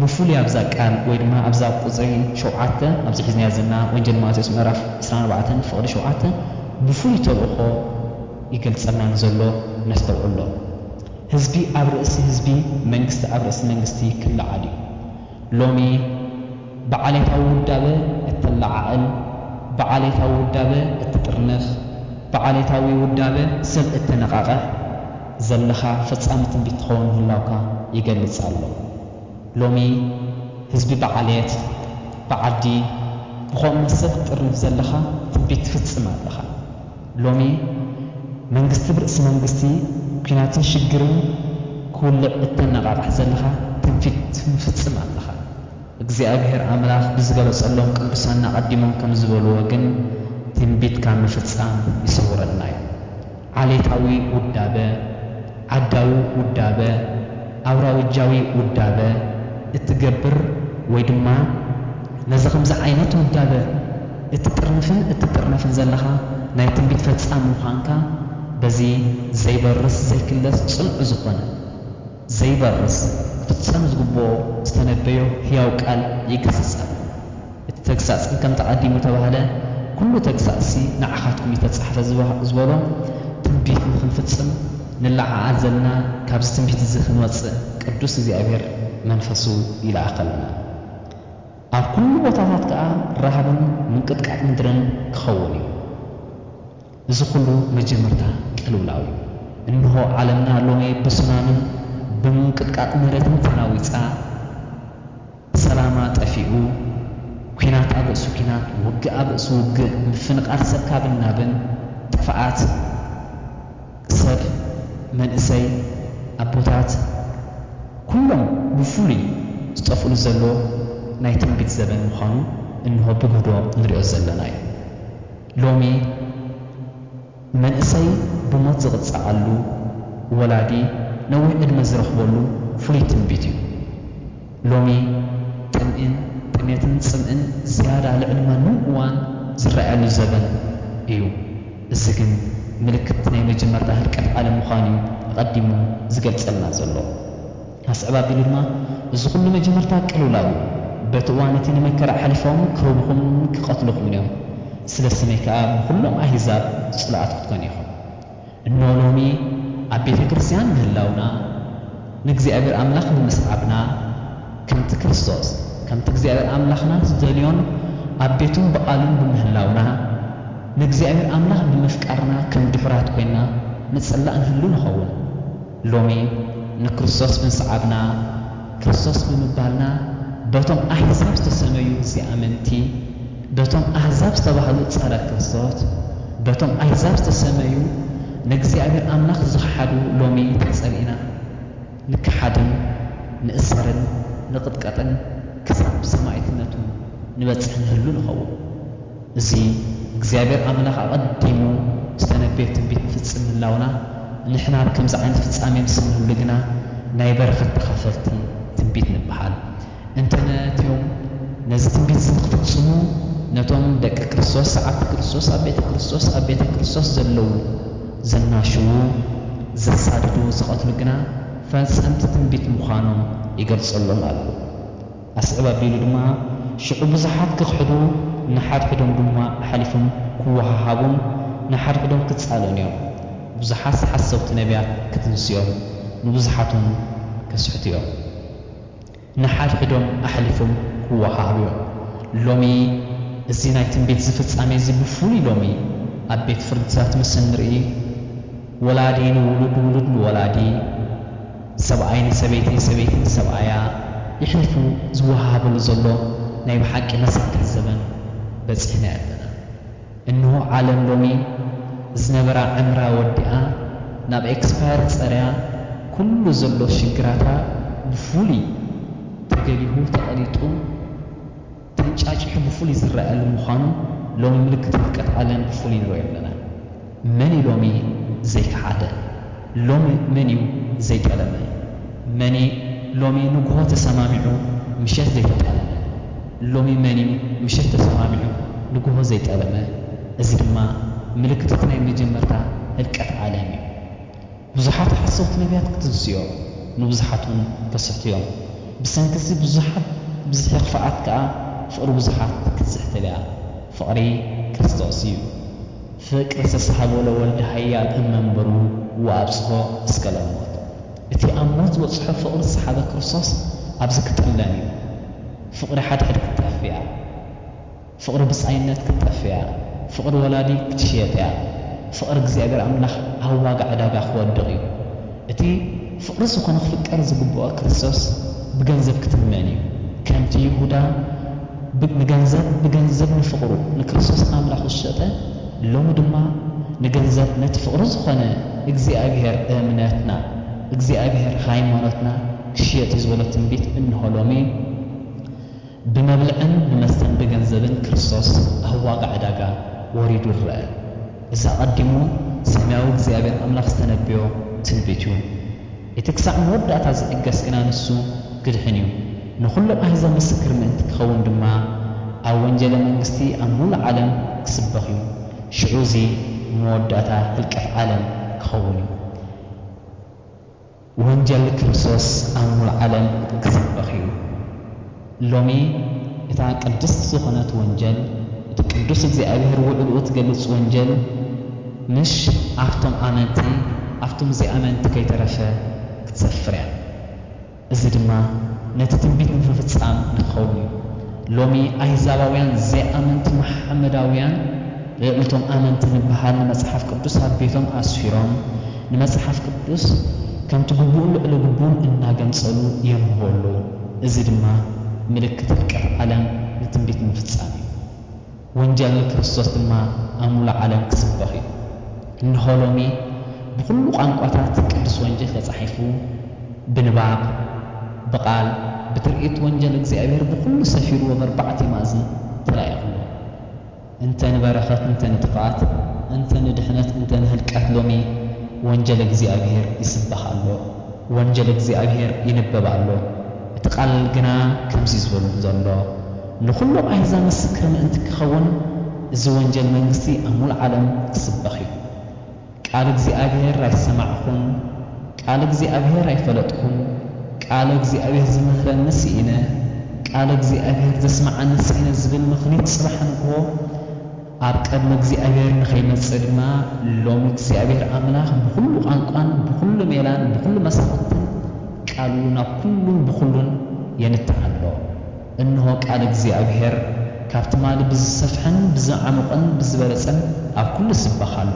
ብፍሉይ ኣብዛ ቃል ወይ ድማ ኣብዛ ቍጽሪ ሸውዓተ ኣብዚ ሒዝናያ ዘለና ወንጀል ማቴዎስ ምዕራፍ ዕስራን ኣርባዕተን ፍቕዲ ሸውዓተ ብፍሉይ ተልእኾ ይገልጸልና ንዘሎ ነስተውዕሎ። ህዝቢ ኣብ ርእሲ ህዝቢ መንግስቲ ኣብ ርእሲ መንግስቲ ክለዓል እዩ። ሎሚ ብዓሌታዊ ውዳበ እተለዓዕል፣ ብዓሌታዊ ውዳበ እትጥርንፍ፣ ብዓሌታዊ ውዳበ ሰብ እተነቓቕሕ ዘለኻ ፈጻሚ ትንቢት ትኸውን ምህላውካ ይገልጽ ኣሎ። ሎሚ ህዝቢ ብዓሌት፣ ብዓዲ፣ ብኸምኡ መሰል ክትጥርንፍ ዘለኻ ትንቢት ትፍጽም ኣለኻ። ሎሚ መንግስቲ ብርእሲ መንግስቲ ኩናትን ሽግርን ክውልዕ እተነቓቕሕ ዘለኻ ትንፊት ትፍጽም ኣለኻ። እግዚኣብሄር ኣምላኽ ብዝገለጸሎም ቅዱሳን ኣቐዲሞም ከም ዝበልዎ ግን ትንቢት ካብ ምፍጻም ይሰውረና እዩ። ዓሌታዊ ውዳበ፣ ዓዳዊ ውዳበ፣ ኣውራውጃዊ ውዳበ፣ እትገብር ወይ ድማ ነዚ ከምዚ ዓይነት ውዳበ እትጥርንፍን እትጥርነፍን ዘለኻ ናይ ትንቢት ፈጻሚ ምዃንካ በዚ ዘይበርስ ዘይክለስ ጽኑዕ ዝኾነ ዘይበርስ ክፍጸም ዝግብኦ ዝተነበዮ ሕያው ቃል ይግስጽ ኣሎ። እቲ ተግሳጽ እንከምቲ ቀዲሙ እተባህለ ኵሉ ተግሳጽሲ ንዓኻትኩም እተጻሕፈ ዝበሎ ትንቢት ንኽንፍጽም ንለዓዓል ዘለና ካብዚ ትንቢት እዚ ክንወጽእ ቅዱስ እግዚኣብሔር መንፈሱ ይልኣኸልና። ኣብ ኵሉ ቦታታት ከኣ ራሃብን ምንቅጥቃጥ ምድርን ክኸውን እዩ። እዚ ኹሉ መጀመርታ ቅልውላው እዩ። እንሆ ዓለምና ሎሚ ብሱናምን ብምንቅጥቃጥ መሬትን ተናዊጻ፣ ሰላማ ጠፊኡ፣ ኲናት ኣብ ርእሲ ኲናት፣ ውግእ ኣብ ርእሲ ውግእ፣ ምፍንቓል ሰብ ካብን ናብን፣ ጥፍኣት ሰብ፣ መንእሰይ፣ ኣቦታት፣ ኩሎም ብፍሉይ ዝጠፍእሉ ዘሎ ናይ ትንቢት ዘበን ምዃኑ እንሆ ብግህዶ ንሪኦ ዘለና እዩ። ሎሚ መንእሰይ ብሞት ዝቕጸዓሉ፣ ወላዲ ነዊሕ ዕድመ ዝረኽበሉ ፍሉይ ትንቢት እዩ። ሎሚ ጥምኢን ጥሜትን ጽምእን ዝያዳ ልዕሊ ማንም እዋን ዝረኣየሉ ዘበን እዩ። እዚ ግን ምልክት ናይ መጀመርታ ህልቀት ዓለም ምዃኑ'ዩ ኣቐዲሙ ዝገልጸልና ዘሎ። ኣስዕብ ኣቢሉ ድማ፣ እዚ ዅሉ መጀመርታ ቅልውላው እዩ፣ በቲ እዋን እቲ ንመከራ ኣሕሊፎም ኪህቡኹምን ኪቐትሉኹምን እዮም፣ ስለ ስመይ ከኣ ንዅሎም ኣህዛብ ጽሉኣት ክትኰኑ ኢኹም። እንሆ፣ ሎሚ ኣብ ቤተ ክርስትያን ምህላውና፣ ንእግዚኣብሄር ኣምላኽ ብምስዓብና፣ ከምቲ ክርስቶስ፣ ከምቲ እግዚኣብሄር ኣምላኽና ዚደልዮን ኣብ ቤቱን ብቓሉን ብምህላውና፣ ንእግዚኣብሄር ኣምላኽ ብምፍቃርና ከም ድሑራት ኰይንና ንጽላእ ንህሉ ንኸውን። ሎሚ ንክርስቶስ ብምስዓብና፣ ክርስቶስ ብምባልና፣ በቶም ኣሕዛብ ዝተሰመዩ ዘይኣመንቲ፣ በቶም ኣህዛብ ዝተባህሉ ጸረ ክርስቶት፣ በቶም ኣህዛብ ዝተሰመዩ ንእግዚኣብሔር ኣምላኽ ዝኸሓዱ ሎሚ ተጸሊእና ንከሓድን ንእሰርን ንቕጥቀጥን ክሳብ ሰማኢትነቱ ንበጽሕ ንህሉ ንኸውን። እዚ እግዚኣብሔር ኣምላኽ ኣቐዲሙ ዝተነበዮ ትንቢት ንፍጽም ምህላውና፣ ንሕና ኣብ ከምዚ ዓይነት ፍጻሜ ምስ እንህሉ ግና ናይ በረኸት ተኻፈልቲ ትንቢት ንበሃል። እንተ ነቲኦም ነዚ ትንቢት እዚ ንኽፍጽሙ ነቶም ደቂ ክርስቶስ፣ ሰዓብቲ ክርስቶስ፣ ኣብ ቤተ ክርስቶስ፣ ኣብ ቤተ ክርስቶስ ዘለዉ፣ ዘናሽዉ፣ ዘሳድዱ፣ ዝቐትሉ ግና ፈጸምቲ ትንቢት ምዃኖም ይገልጸሎም ኣሎ። ኣስዕብ ኣቢሉ ድማ ሽዑ ብዙሓት ክኽሕዱ ንሓድሕዶም ድማ ኣሕሊፎም ክወሃሃቡን ንሓድሕዶም ክጻልኡን እዮም። ብዙሓት ሓሰውቲ ነብያት ክትንስኦም ንብዙሓትውን ከስሕቱ እዮም። ንሓድሕዶም ኣሕሊፎም ክወሃሃቡ እዮም። ሎሚ እዚ ናይ ትንቢት እዚ ፍጻሜ እዚ ብፍሉይ ሎሚ ኣብ ቤት ፍርድታት ምስ እንርኢ ወላዲ ንውሉድ ውሉድ ንወላዲ፣ ሰብኣይ ንሰበይቲ፣ ሰበይቲ ንሰብኣያ የሕሊፉ ዝወሃሃበሉ ዘሎ ናይ ብሓቂ መሳጢ ዘበን በጺሕና ኣለና። እንሆ ዓለም ሎሚ ዝነበራ ዕምራ ወዲኣ ናብ ኤክስፓየር ጸርያ ኩሉ ዘሎ ሽግራታ ብፍሉይ ተገሊሁ ተቐሊጡ፣ ተንጫጪሑ ብፍሉይ ዝረኣየሉ ምዃኑ ሎሚ ምልክት ውድቀት ዓለም ብፍሉይ ንርእዮ ኣለና። መን'ዩ ሎሚ ዘይከሓደ? ሎሚ መን'ዩ ዘይጠለመ? መን'ዩ ሎሚ ንግሆ ተሰማሚዑ ምሸት ዘይተጣለመ? ሎሚ መን'ዩ ምሸት ተሰማሚዑ ንግሆ ዘይጠለመ? እዚ ድማ ምልክት'ቲ ናይ መጀመርታ ህልቀት ዓለም'ዩ። ብዙሓት ሓሰውቲ ነብያት ክትንስዮ፣ ንብዙሓትውን ከስሕቱዮም። ብሰንኪዚ ብዙሓት ብዝሒ ክፍኣት ከኣ ፍቕሪ ብዙሓት ክትስሕትልያ። ፍቕሪ ክርስቶስ እዩ። ፍቅር ዝተሳህቦ ለወልድ ኃያል እመንበሩ ወአብጽሖ እስከ ለሞት። እቲ ኣብ ሞት ዝበጽሖ ፍቕሪ ዝሰሓበ ክርስቶስ ኣብዚ ክጥለም እዩ። ፍቕሪ ሓድሕድ ክትጠፍእ እያ። ፍቕሪ ብጻይነት ክትጠፍእያ ፍቕሪ ወላዲ ክትሽየጥያ ፍቕሪ እግዚኣብሔር ኣምላኽ ኣብ ዋጋ ዕዳጋ ክወድቕ እዩ እቲ ፍቕሪ ዝኾነ ክፍቀር ዝግብኦ ክርስቶስ ብገንዘብ ክትመን እዩ ከምቲ ይሁዳ ብ ንገንዘብ ብገንዘብ ንፍቕሩ ንክርስቶስ ኣምላኹ ዝሸጠ ሎሚ ድማ ንገንዘብ ነቲ ፍቕሪ ዝኾነ እግዚኣብሔር እምነትና እግዚኣብሔር ሃይማኖትና ክሽየጥ እዩ ዝበሎ ትንቢት እንሆ ሎሚ ብመብልዕን ብመስተን ብገንዘብን ክርስቶስ ኣብ ዋጋ ዕዳጋ ወሪዱ ይረኣ። እዚ ኣቐዲሙ ሰማያዊ እግዚኣብሔር ኣምላኽ ዝተነበዮ ትንቢት እዩ። እቲ ክሳዕ መወዳእታ ዝዕገስ ግና ንሱ ክድሕን እዩ፣ ንኹሎም ኣሕዛብ ምስክር ምእንቲ ክኸውን ድማ ኣብ ወንጀለ መንግስቲ ኣብ ምሉእ ዓለም ክስበኽ እዩ። ሽዑ እዚ መወዳእታ ህልቀት ዓለም ክኸውን እዩ። ወንጀል ክርስቶስ ኣብ ምሉእ ዓለም ክሰበኽ እዩ። ሎሚ እታ ቅድስት ዝኾነት ወንጀል፣ እቲ ቅዱስ እግዚኣብሔር ውዕልኡ እትገልጽ ወንጀል ምሽ ኣብቶም ኣመንቲ ኣብቶም ዘይኣመንቲ ከይተረፈ ክትሰፍር እያ። እዚ ድማ ነቲ ትንቢት ንምፍጻም ንክኸውን እዩ። ሎሚ ኣይዛባውያን ዘይኣመንቲ መሓመዳውያን ልዕሊቶም ኣመንቲ ንበሃል ንመጽሓፍ ቅዱስ ኣብ ቤቶም ኣስፊሮም፣ ንመጽሓፍ ቅዱስ ከምቲ ግቡእን ልዕሊ ግቡእን እናገንጸሉ የንብቦ ኣለዉ። እዚ ድማ ምልክት ህልቀት ዓለም ንትንቢት ምፍጻም እዩ። ወንጀል ንክርስቶስ ድማ ኣብ ምሉእ ዓለም ክስበኽ እዩ። እንሆ ሎሚ ብኹሉ ቋንቋታት ቅዱስ ወንጀል ተጻሒፉ ብንባብ፣ ብቓል፣ ብትርኢት ወንጀል እግዚኣብሔር ብኹሉ ሰፊሩ ወበርባዕቲማእዝን ተላኢኹ ኣሎ። እንተ ንበረኸት እንተ ንጥፍኣት እንተ ንድሕነት እንተ ንህልቀት ሎሚ ወንጀል እግዚኣብሔር ይስበኽ ኣሎ ወንጀል እግዚኣብሔር ይንበብ ኣሎ እቲ ቃል ግና ከምዚ ዝበሉ ዘሎ ንኹሎም ኣሕዛብ ምስክር ምእንቲ ክኸውን እዚ ወንጀል መንግስቲ ኣብ ምሉእ ዓለም ክስበኽ እዩ። ቃል እግዚኣብሔር ኣይሰማዕኹን ቃል እግዚኣብሔር ኣይፈለጥኩን ቃል እግዚኣብሔር ዝምህረኒ ስኢነ ቃል እግዚኣብሔር ዘስምዓኒ ስኢነ ዝብል ምኽኒት ጽባሕ ንግሆ ኣብ ቅድሚ እግዚኣብሔር ንኸይመጽእ ድማ ሎሚ እግዚኣብሔር ኣምላኽ ብኹሉ ቛንቋን ብኹሉ ሜላን ብኹሉ መሳኹትን ቃሉ ናብ ኩሉን ብኹሉን የንትዕ ኣሎ። እንሆ ቃል እግዚኣብሄር ካብ ትማሊ ብዝሰፍሐን ብዝዓሙቕን ብዝበለጸን ኣብ ኩሉ ይስበኽ ኣሎ።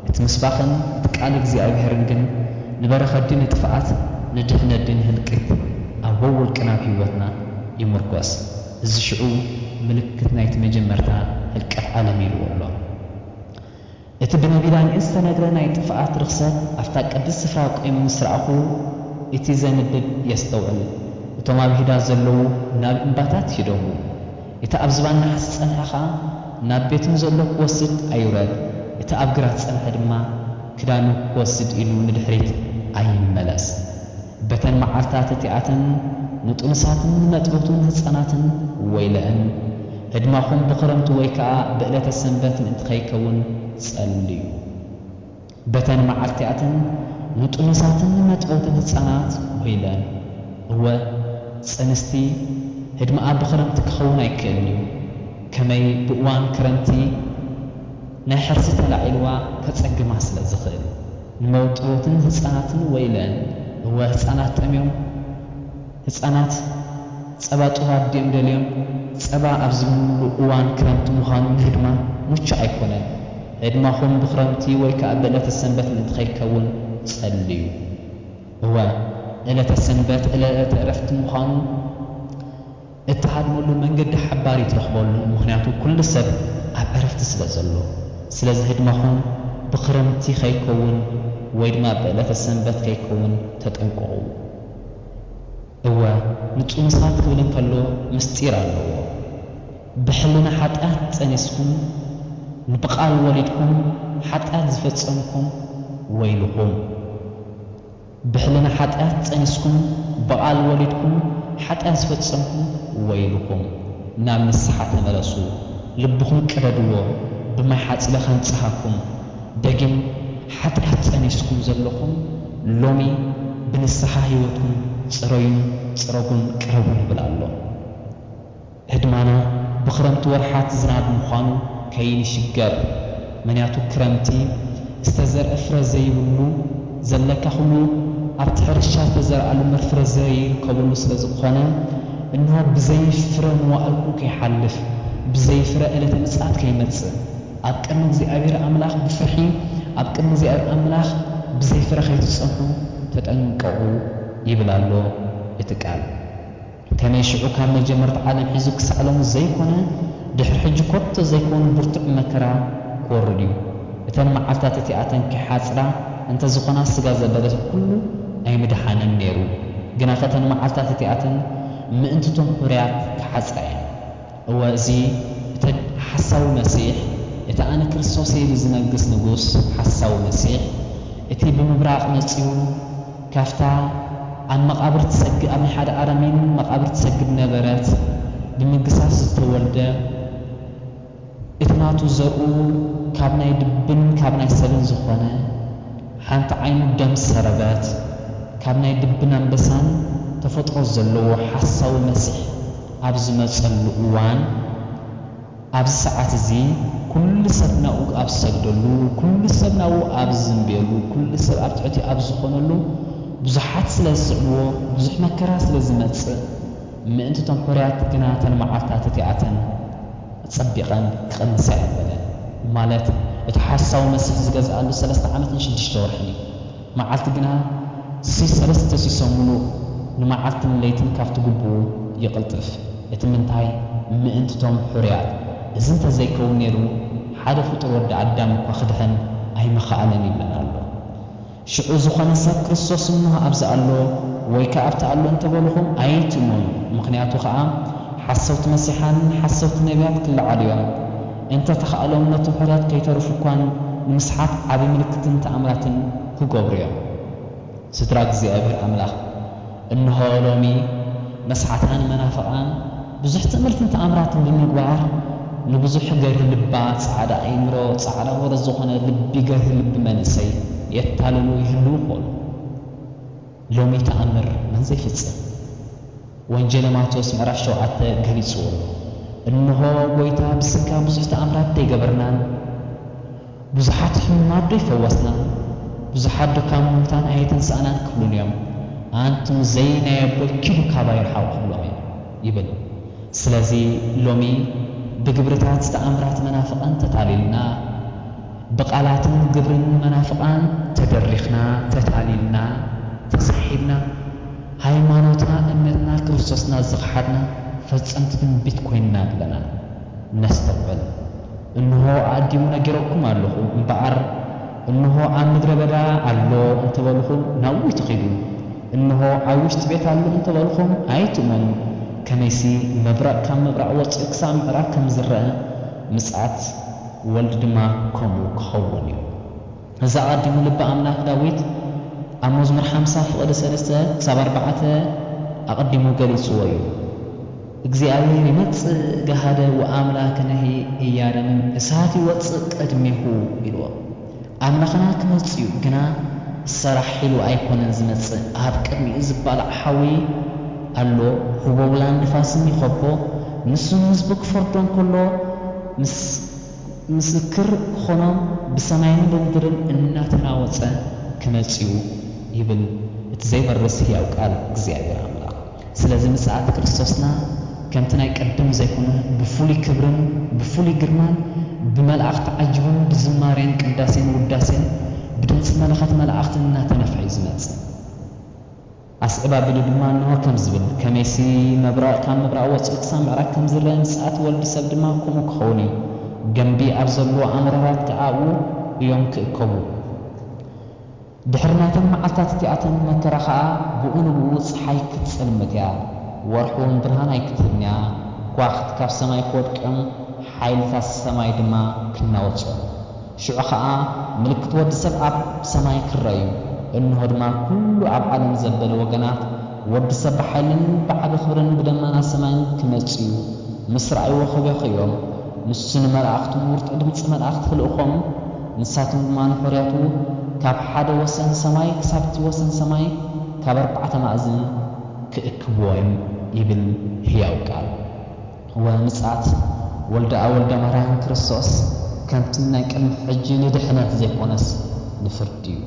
እቲ ምስባኽን እቲ ቃል እግዚኣብሄርን ግን ንበረኸት ድዩ ንጥፍኣት ንድሕነት ድዩ ንህልቂት ኣብ ወውልቅን ኣብ ህይወትና ይምርኮስ። እዚ ሽዑ ምልክት ናይቲ መጀመርታ ህልቀት ዓለም ኢልዎ ኣሎ። እቲ ብነቢላን ዝተነግረ ናይ ጥፍኣት ርኽሰት ኣብታ ቅድስት ስፍራ ቈይሙ ምስ ረኣኹ፣ እቲ ዘንብብ የስተውዕል፣ እቶም ኣብ ይሁዳ ዘለዉ ናብ እምባታት ይደዉ፣ እቲ ኣብ ዝባን ነሓስ ዝጸንሐ ኸኣ ናብ ቤቱ ንዘሎ ክወስድ ኣይውረድ፣ እቲ ኣብ ግራት ዝጸንሐ ድማ ክዳኑ ክወስድ ኢሉ ንድሕሪት ኣይመለስ። በተን መዓልታት እቲኣተን ንጥኑሳትን ንመጥበውትን ህጻናትን ወይለዐን፣ ህድማኹም ብኽረምቲ ወይ ከኣ ብእለተ ሰንበት ምእንቲ ኸይከውን ጸልዩ። በተን መዓልቲኣተን ንጥኑሳትን ንመጥበውትን ህጻናት ወይለን። እወ፣ ጽንስቲ ህድማኣ ብኽረምቲ ኪኸውን ኣይክእልን እዩ። ከመይ ብእዋን ክረምቲ ናይ ሕርሲ ተላዒልዋ ከጸግማ ስለ ዚኽእል። መውጥሮትን ህጻናትን ወይለን እወ ህጻናት ጠምዮም ህጻናት ጸባ ጡብ ኣዲኦም ደልዮም ጸባ ኣብ ዝብልሉ እዋን ክረምቲ ምዃኑ ንህድማ ሙቹእ ኣይኮነን ህድማኹም ብክረምቲ ወይ ከኣ ብእለተ ሰንበት ምእንቲ ከይከውን ጸልዩ እወ እለተ ሰንበት እለተ እረፍቲ ምዃኑ እትሃድመሉ መንገዲ ሓባሪ ትረኽበሉ ምኽንያቱ ኩሉ ሰብ ኣብ ዕረፍቲ ስለ ዘሎ ስለዚ ህድማኹም ብኽረምቲ ከይከውን ወይ ድማ ብዕለተ ሰንበት ከይከውን ተጠንቀቑ እወ ንጡኑሳት ክብል እንከሎ ምስጢር ኣለዎ ብሕልና ሓጥያት ጸኒስኩም ንብቓል ወሊድኩም ሓጥያት ዝፈጸምኩም ወይልኹም። ብሕልና ሓጢኣት ጸኒስኩምን ብቓል ወሊድኩምን ሓጢኣት ዝፈጸምኩም ወይልኹም። ናብ ንስሓ ተመለሱ፣ ልብኹም ቅደድዎ፣ ብማይ ሓጺበ ከንጽሃኩም። ደጊም ሓጢኣት ጸኒስኩም ዘሎኹም ሎሚ ብንስሓ ህይወትኩም ጽረዩን ጽረጉን ቅረቡን ይብል ኣሎ። ህድማና ብክረምቲ ወርሓት ዝናብ ምዃኑ ከይንሽገር መንያቱ ክረምቲ ዝተዘርእ ፍረ ዘይብሉ ዘለካ ኩሉ ኣብቲ ሕርሻ ዝተዘርኣሉ ምርፍረ ዘይርከበሉ ስለ ዝኾነ እንሆ ብዘይ ፍረ መዋእልኩም ከይሓልፍ ብዘይ ፍረ እለተ ምጽኣት ከይመጽእ ኣብ ቅድሚ እግዚኣብሄር ኣምላኽ ብፍርሒ ኣብ ቅድሚ እግዚኣብሄር ኣምላኽ ብዘይ ፍረ ከይትጸንሑ ተጠንቀቑ ይብል ኣሎ እቲ ቃል። ከመይ ሽዑ ካብ መጀመርታ ዓለም ሒዙ ክሳዕ ሎሚ ዘይኰነ፣ ድሕሪ ሕጂ ኰቶ ዘይከውን ብርቱዕ መከራ ክወርድ እዩ። እተን መዓልትታት እቲኣተን ኪሓጽራ እንተ ዝዀና ስጋ ዘበለ ኵሉ ኣይምደሓነን ነይሩ። ግናኸ እተን መዓልትታት እቲኣተን ምእንቲ'ቶም ሕሩያት ክሓጽራ እየን። እወ እዚ እተግ ሓሳዊ መሲሕ እቲ ኣነ ክርስቶስ እየ ኢሉ ዝነግስ ንጉስ ሓሳዊ መሲሕ እቲ ብምብራቕ መጺኡ ካብታ ኣብ መቓብር ትሰግ ኣብ ናይ ሓደ ኣረሚን መቓብር ትሰግድ ነበረት ብምግሳስ ዝተወልደ እቲ ናቱ ዘርኡ ካብ ናይ ድብን ካብ ናይ ሰብን ዝኾነ ሓንቲ ዓይኑ ደም ሰረበት ካብ ናይ ድብን ኣንበሳን ተፈጥሮ ዘለዎ ሓሳዊ መሲሕ ኣብ ዝመጸሉ እዋን ኣብዚ ሰዓት እዚ ኩሉ ሰብ ናብኡ ኣብ ዝሰግደሉ ኩሉ ሰብ ናብኡ ኣብ ዝዝምብየሉ ኩሉ ሰብ ኣብ ትሕቲኡ ኣብ ዝኾነሉ ብዙሓት ስለ ዝስዕብዎ ብዙሕ መከራ ስለ ዝመጽእ ምእንቲ እቶም ሕሩያት ግና እተን መዓልትታት እቲኣተን ኣጸቢቐን ክቕንሳ እየን በለ። ማለት እቲ ሓሳዊ መሲሕ ዝገዝኣሉ ሰለስተ ዓመትን ሽዱሽተ ወርሕን እዩ። መዓልቲ ግና ሲ ሰለስተ ሲሶ ምሉእ ንመዓልትን ለይትን ካብቲ ግቡኡ ይቕልጥፍ። እቲ ምንታይ ምእንቲ'ቶም ሕሩያት። እዚ እንተ ዘይከውን ነይሩ ሓደ ፍጡር ወዲ ኣዳም እኳ ክድሕን ኣይምኸኣለን ይብለና ኣሎ። ሽዑ ዝኾነ ሰብ ክርስቶስ እነሆ ኣብዚ ኣሎ ወይ ከኣ ኣብቲ ኣሎ እንተ በልኹም ኣይትእመኑ ምኽንያቱ ከኣ ሓሰውቲ መሲሓንን ሓሰውቲ ነብያት ክለዓሉ እዮም። እንተ ተኻእሎም ነቶም ሕሩያት ከይተርፉ እኳን ንምስሓት ዓቢ ምልክትን ተኣምራትን ክገብሩ እዮም። ስድራ እግዚኣብሔር ኣምላኽ እንሆ ሎሚ መስሓታ ንመናፍቓን ብዙሕ ትእምርትን ተኣምራትን ብምግባር ንብዙሕ ገርሂ ልባ ጻዕዳ ኣይምሮ ጻዕዳ ወረ ዝኾነ ልቢ ገርሂ ልቢ መንእሰይ የታልሉ ይህልዉ ይኾኑ። ሎሚ ተኣምር መን ዘይፍጽም ወንጌለ ማቴዎስ ምዕራፍ ሸውዓተ ገሊጽዎ ኣሎ። እንሆ ጐይታ ብስጋ ብዙሕ ተኣምራትዶ ኣይገበርናን? ብዙሓት ሕሙማትዶ ኣይፈወስናን? ብዙሓትዶ ካብ ምዉታን ኣየተንሳእናን? ክብሉኒ እዮም። ኣንቱም ዘይ ናይ ኣቦይ ኪዱ ካባይ ርሓቑ ክብሎም እየ ይብል። ስለዚ ሎሚ ብግብርታት ተኣምራት መናፍቓን ተታሊልና፣ ብቃላትን ግብርን መናፍቃን ተደሪኽና ተታሊልና ተሳሒብና ሃይማኖትና እምነትና ክርስቶስና ዝኸሓድና ፈጸምቲ ትንቢት ኮይንና ኣለና ነስተውዕል እንሆ ኣእዲሙ ነጊረኩም ኣለኹ እምበኣር እንሆ ኣብ ምድረ በዳ ኣሎ እንተበልኹም ናብኡ ኣይትኺዱ እንሆ ኣብ ውሽጢ ቤት ኣሎ እንተበልኹም ኣይትእመኑ ከመይሲ መብረቅ ካብ ምብራቅ ወጺኡ ክሳብ ምዕራብ ከም ዝረኣ ምጽኣት ወልድ ድማ ከምኡ ክኸውን እዩ። እዚ ኣቐዲሙ ልቢ ኣምላኽ ዳዊት ኣብ መዝሙር ሓምሳ ፍቕዲ ሰለስተ ክሳብ ኣርባዕተ ኣቐዲሙ ገሊጽዎ እዩ። እግዚኣብሔር ይመጽእ ገሃደ ወኣምላክንሂ ኢያረምም፣ እሳት ይወጽእ ቅድሜሁ ኢልዎ። ኣምላኽና ክመጽእዩ ግና ሰራሕ ኢሉ ኣይኮነን ዝመጽእ ኣብ ቅድሚኡ ዝባላዕ ሓዊ ኣሎ ህቦብላን ንፋስን ይኸቦ ንሱ ንህዝቡ ክፈርዶ እንከሎ ምስክር ክኾኖም ብሰማይን ብምድርን እናተናወጸ ክመጽእዩ ይብል እቲ ዘይበርስ ህያው ቃል እግዚኣብሔር ኣምላኽ። ስለዚ ምጽኣት ክርስቶስና ከምቲ ናይ ቅድም ዘይኮነ ብፍሉይ ክብርን ብፍሉይ ግርማን ብመላእኽት ተዓጂቡን ብዝማሬን ቅዳሴን ውዳሴን ብድምጺ መለኸት መላእኽትን እናተነፍሐ እዩ ዝመጽእ። ኣስዕብ ኣቢሉ ድማ እንሆ ከም ዝብል ከመይሲ ምብራቕ ካብ ምብራቕ ወጺኡ ክሳብ ምዕራብ ከም ዝረኣ ምጽኣት ወልድ ሰብ ድማ ከምኡ ክኸውን እዩ። ገምቢ ኣብ ዘለዎ ኣምርራት ከኣ ኣብኡ እዮም ክእከቡ። ድሕሪ ናይተን መዓልታት እቲኣተን መከራ ኸኣ ብኡ ንብኡ ጸሓይ ክትጸልምት እያ፣ ወርሕውን ብርሃን ኣይክትህብን እያ፣ ከዋኽብቲ ካብ ሰማይ ክወድቅም ሓይልታት ሰማይ ድማ ክናወጹ እዮም። ሽዑ ኸኣ ምልክት ወዲ ሰብ ኣብ ሰማይ ክርኣ እዩ፣ እንሆ ድማ ኵሉ ኣብ ዓለም ዘበለ ወገናት ወዲ ሰብ ብሓይልን ብዓቢ ክብርን ብደመና ሰማይን ክመጽኡ ምስ ረኣይዎ ክበኽዩ እዮም፣ ንሱ ንመላእኽቱ ብብርቱዕ ድምጺ መላእኽቲ ክልእኮም፣ ንሳቶም ድማ ንሕሩያቱ ካብ ሓደ ወሰን ሰማይ ክሳብ'ቲ ወሰን ሰማይ ካብ ኣርባዕተ ማእዝን ክእክብዎ'ዮም ይብል ህያው ቃል። እወ ምጽኣት ወልደኣ ወልደ ማርያም ክርስቶስ ከምቲ ናይ ቅድሚ ሕጂ ንድሕነት ዘይኮነስ ንፍርዲ'ዩ።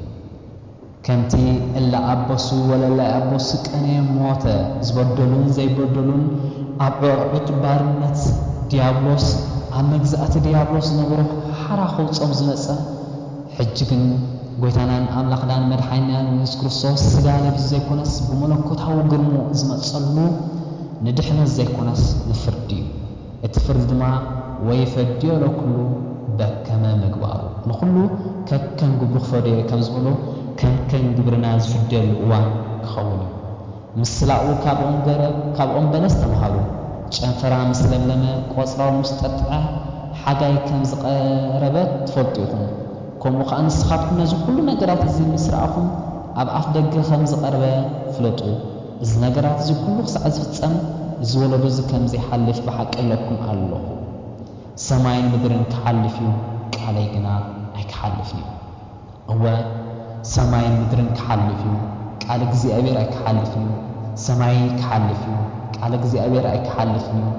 ከምቲ እለ ኣበሱ ወለላይ ኣበሱ ቀንየ ሞተ ዝበደሉን ዘይበደሉን ኣብ ዑቕዕድ ባርነት ድያብሎስ ኣብ መግዛእቲ ድያብሎስ ዝነበሩ ሓራ ከውጾም ዝመጸ ሕጂ ግን ጎይታናን ኣምላኽናን መድሓኒናን የሱስ ክርስቶስ ስጋ ለቢሱ ዘይኮነስ ብመለኮታዊ ግርምኡ ዝመጸሉ ንድሕነት ዘይኮነስ ንፍርዲዩ። እቲ ፍርዲ ድማ ወይ ፈድዮ ለኩሉ በከመ ምግባሩ፣ ንኹሉ ከከም ግብሩ ክፈድዮ እዩ ከም ዝበሎ፣ ከከም ግብርና ዝፍድየሉ እዋን ክኸውን እዩ። ምስላኡ ካብ ኦም ገረብ ካብ ኦም በለስ ተምሃሩ፣ ጨንፈራ ምስ ለምለመ ቆጽራው ምስ ጠጥዐ ሓጋይ ከም ዝቐረበ ትፈልጡ ኢኹም፣ ከምኡ ኸኣ ንስኻትኩም ነዚ ኹሉ ነገራት እዚ ምስ ረኣኹም ኣብ ኣፍ ደገ ከም ዝቐርበ ፍለጡ። እዚ ነገራት እዚ ኩሉ ክሳዕ ዝፍጸም እዚ ወለዶ እዚ ከም ዘይሓልፍ ብሓቂ እብለኩም ኣሎኹ። ሰማይን ምድርን ክሓልፍ እዩ ቃለይ ግና ኣይክሓልፍን እዩ። እወ ሰማይን ምድርን ክሓልፍ እዩ ቃል እግዚኣብሔር ኣይክሓልፍን እዩ። ሰማይ ክሓልፍ እዩ ቃል እግዚኣብሔር ኣይክሓልፍን እዩ።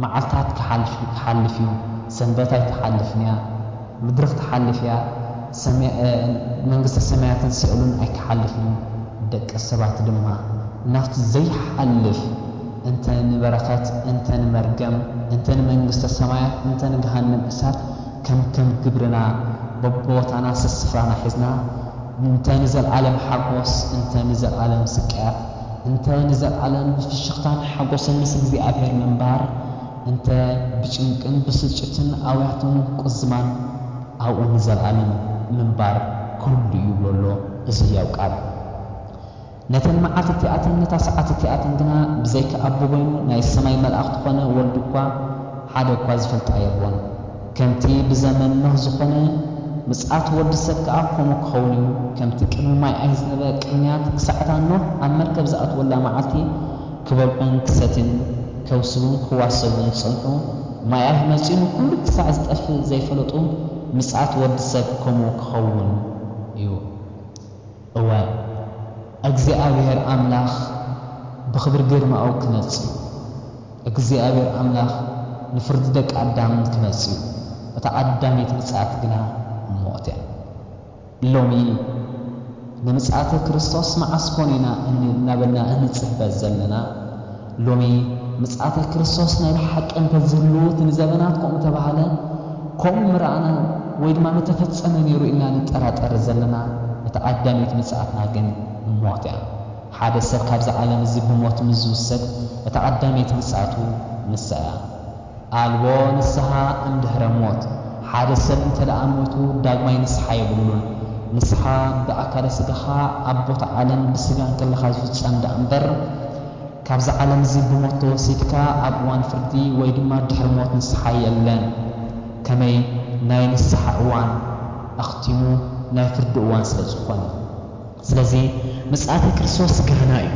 መዓልታት ክሓልፍ እዩ ሰንበት ኣይትሓልፍን እያ። ምድሪ ክትሓልፍ እያ መንግስተ ሰማያትን ሲኦልን ኣይክሓልፍን እዩ ደቂ ሰባት ድማ ናብቲ ዘይሓልፍ እንተ ንበረከት እንተ ንመርገም እንተ ንመንግስተ ሰማያት እንተ ንገሃነም እሳት ከምከም ግብርና በብቦታና ሰስፍራና ሒዝና እንተ ንዘልኣለም ሓጎስ እንተ ንዘልኣለም ስቅያት እንተ ንዘልኣለም ብፍሽክታን ሓጎስን ምስ እግዚኣብሔር ምንባር እንተ ብጭንቅን ብስጭትን ኣውያትን ቁዝማን ኣብኡ ንዘልኣለም ምንባር ክህሉ እዩ ይብሎ ኣሎ እዚ ህያው ቃል። ነተን መዓልቲ እቲኣትን ነታ ሰዓት እቲኣትን ግና ብዘይካ ኣቦ በይኑ ናይ ሰማይ መልኣኽቲ ኮነ ወልድ እኳ ሓደ እኳ ዝፈልጣ የልቦን። ከምቲ ብዘመን ኖህ ዝኾነ ምጽኣት ወዲ ሰብ ከኣ ከምኡ ክኸውን እዩ። ከምቲ ቅድሚ ማይ ኣይዝነበ ቅንያት ክሳዕ እታ ኖህ ኣብ መርከብ ዝኣትወላ መዓልቲ፣ ክበልዑን ክሰትዩን ከብስቡን ክዋሰቡን ዝጸንሑ ማያህ መጺኡ ኩሉ ክሳዕ ዝጠፍእ ዘይፈለጡ ምጽኣት ወዲ ሰብ ከምኡ ክኸውን እዩ እወ እግዚኣብሄር ኣምላኽ ብኽብሪ ግርማኡ ክመጽእ እዩ እግዚኣብሄር ኣምላኽ ንፍርዲ ደቂ ኣዳም ክመጽእ እዩ እታ ቀዳመይቲ ምጽኣት ግና ሞት እያ። ሎሚ ንምጽኣተ ክርስቶስ መዓስ ኮን ኢና እናበልና እንጽበ ዘለና? ሎሚ ምጽኣተ ክርስቶስ ናይ ብሓቂ እንተ ዝህሉ እቲ ንዘበናት ከምኡ ተባህለ ከምኡ ምረኣናን ወይ ድማ ምተፈጸመ ነይሩ ኢልና ንጠራጠር ዘለና። እታ ቀዳመይቲ ምጽኣትና ግን ሞት እያ። ሓደ ሰብ ካብዚ ዓለም እዚ ብሞት ምስ ዝውሰድ እታ ቀዳመይቲ ምጽኣቱ ንሳ እያ። ኣልቦ ንስሓ እንድህረ ሞት፣ ሓደ ሰብ እንተደኣ ሞይቱ ዳግማይ ንስሓ የብሉን። ንስሓ ብኣካለ ስጋኻ ኣብ ቦታ ዓለም ብስጋ እንከለኻ ዝፍጸም ደኣ እምበር፣ ካብዚ ዓለም እዚ ብሞት ተወሲድካ ኣብ እዋን ፍርዲ ወይ ድማ ድሕሪ ሞት ንስሓ የለን። ከመይ ናይ ንስሓ እዋን ኣኽቲሙ ናይ ፍርዲ እዋን ስለ ዝኾነ። ስለዚ ምጽኣተ ክርስቶስ ገሃና እዩ።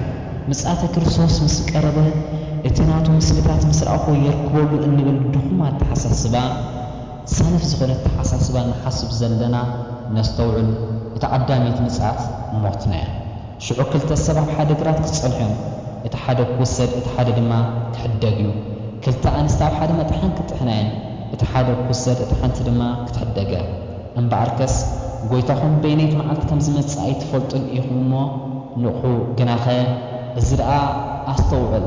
ምጽኣተ ክርስቶስ ምስ ቀረበ እቲ ናቱ ምስልታት ምስ ረኣኹ የርክበሉ እንብል ድኹም ኣተሓሳስባ፣ ሰነፍ ዝኾነ ኣተሓሳስባ ንሓስብ ዘለና ነስተውዕል፣ እታ ቀዳመይቲ ምጽኣት ሞትና እያ። ሽዑ ክልተ ሰብ ኣብ ሓደ ግራት ክጸንሑ እዮም፣ እቲ ሓደ ክውሰድ እቲ ሓደ ድማ ክሕደግ እዩ። ክልተ ኣንስቲ ኣብ ሓደ መጥሓን ክጥሕና እየን፣ እቲ ሓደ ክውሰድ እታ ሓንቲ ድማ ክትሕደግ እያ። እምበኣርከስ ጐይታኹም በየነይቲ መዓልቲ ከም ዚመጽእ ኣይትፈልጡን ኢኹም እሞ፣ ንቕሑ፣ ግናኸ እዚ ደኣ ኣስተውዕል፣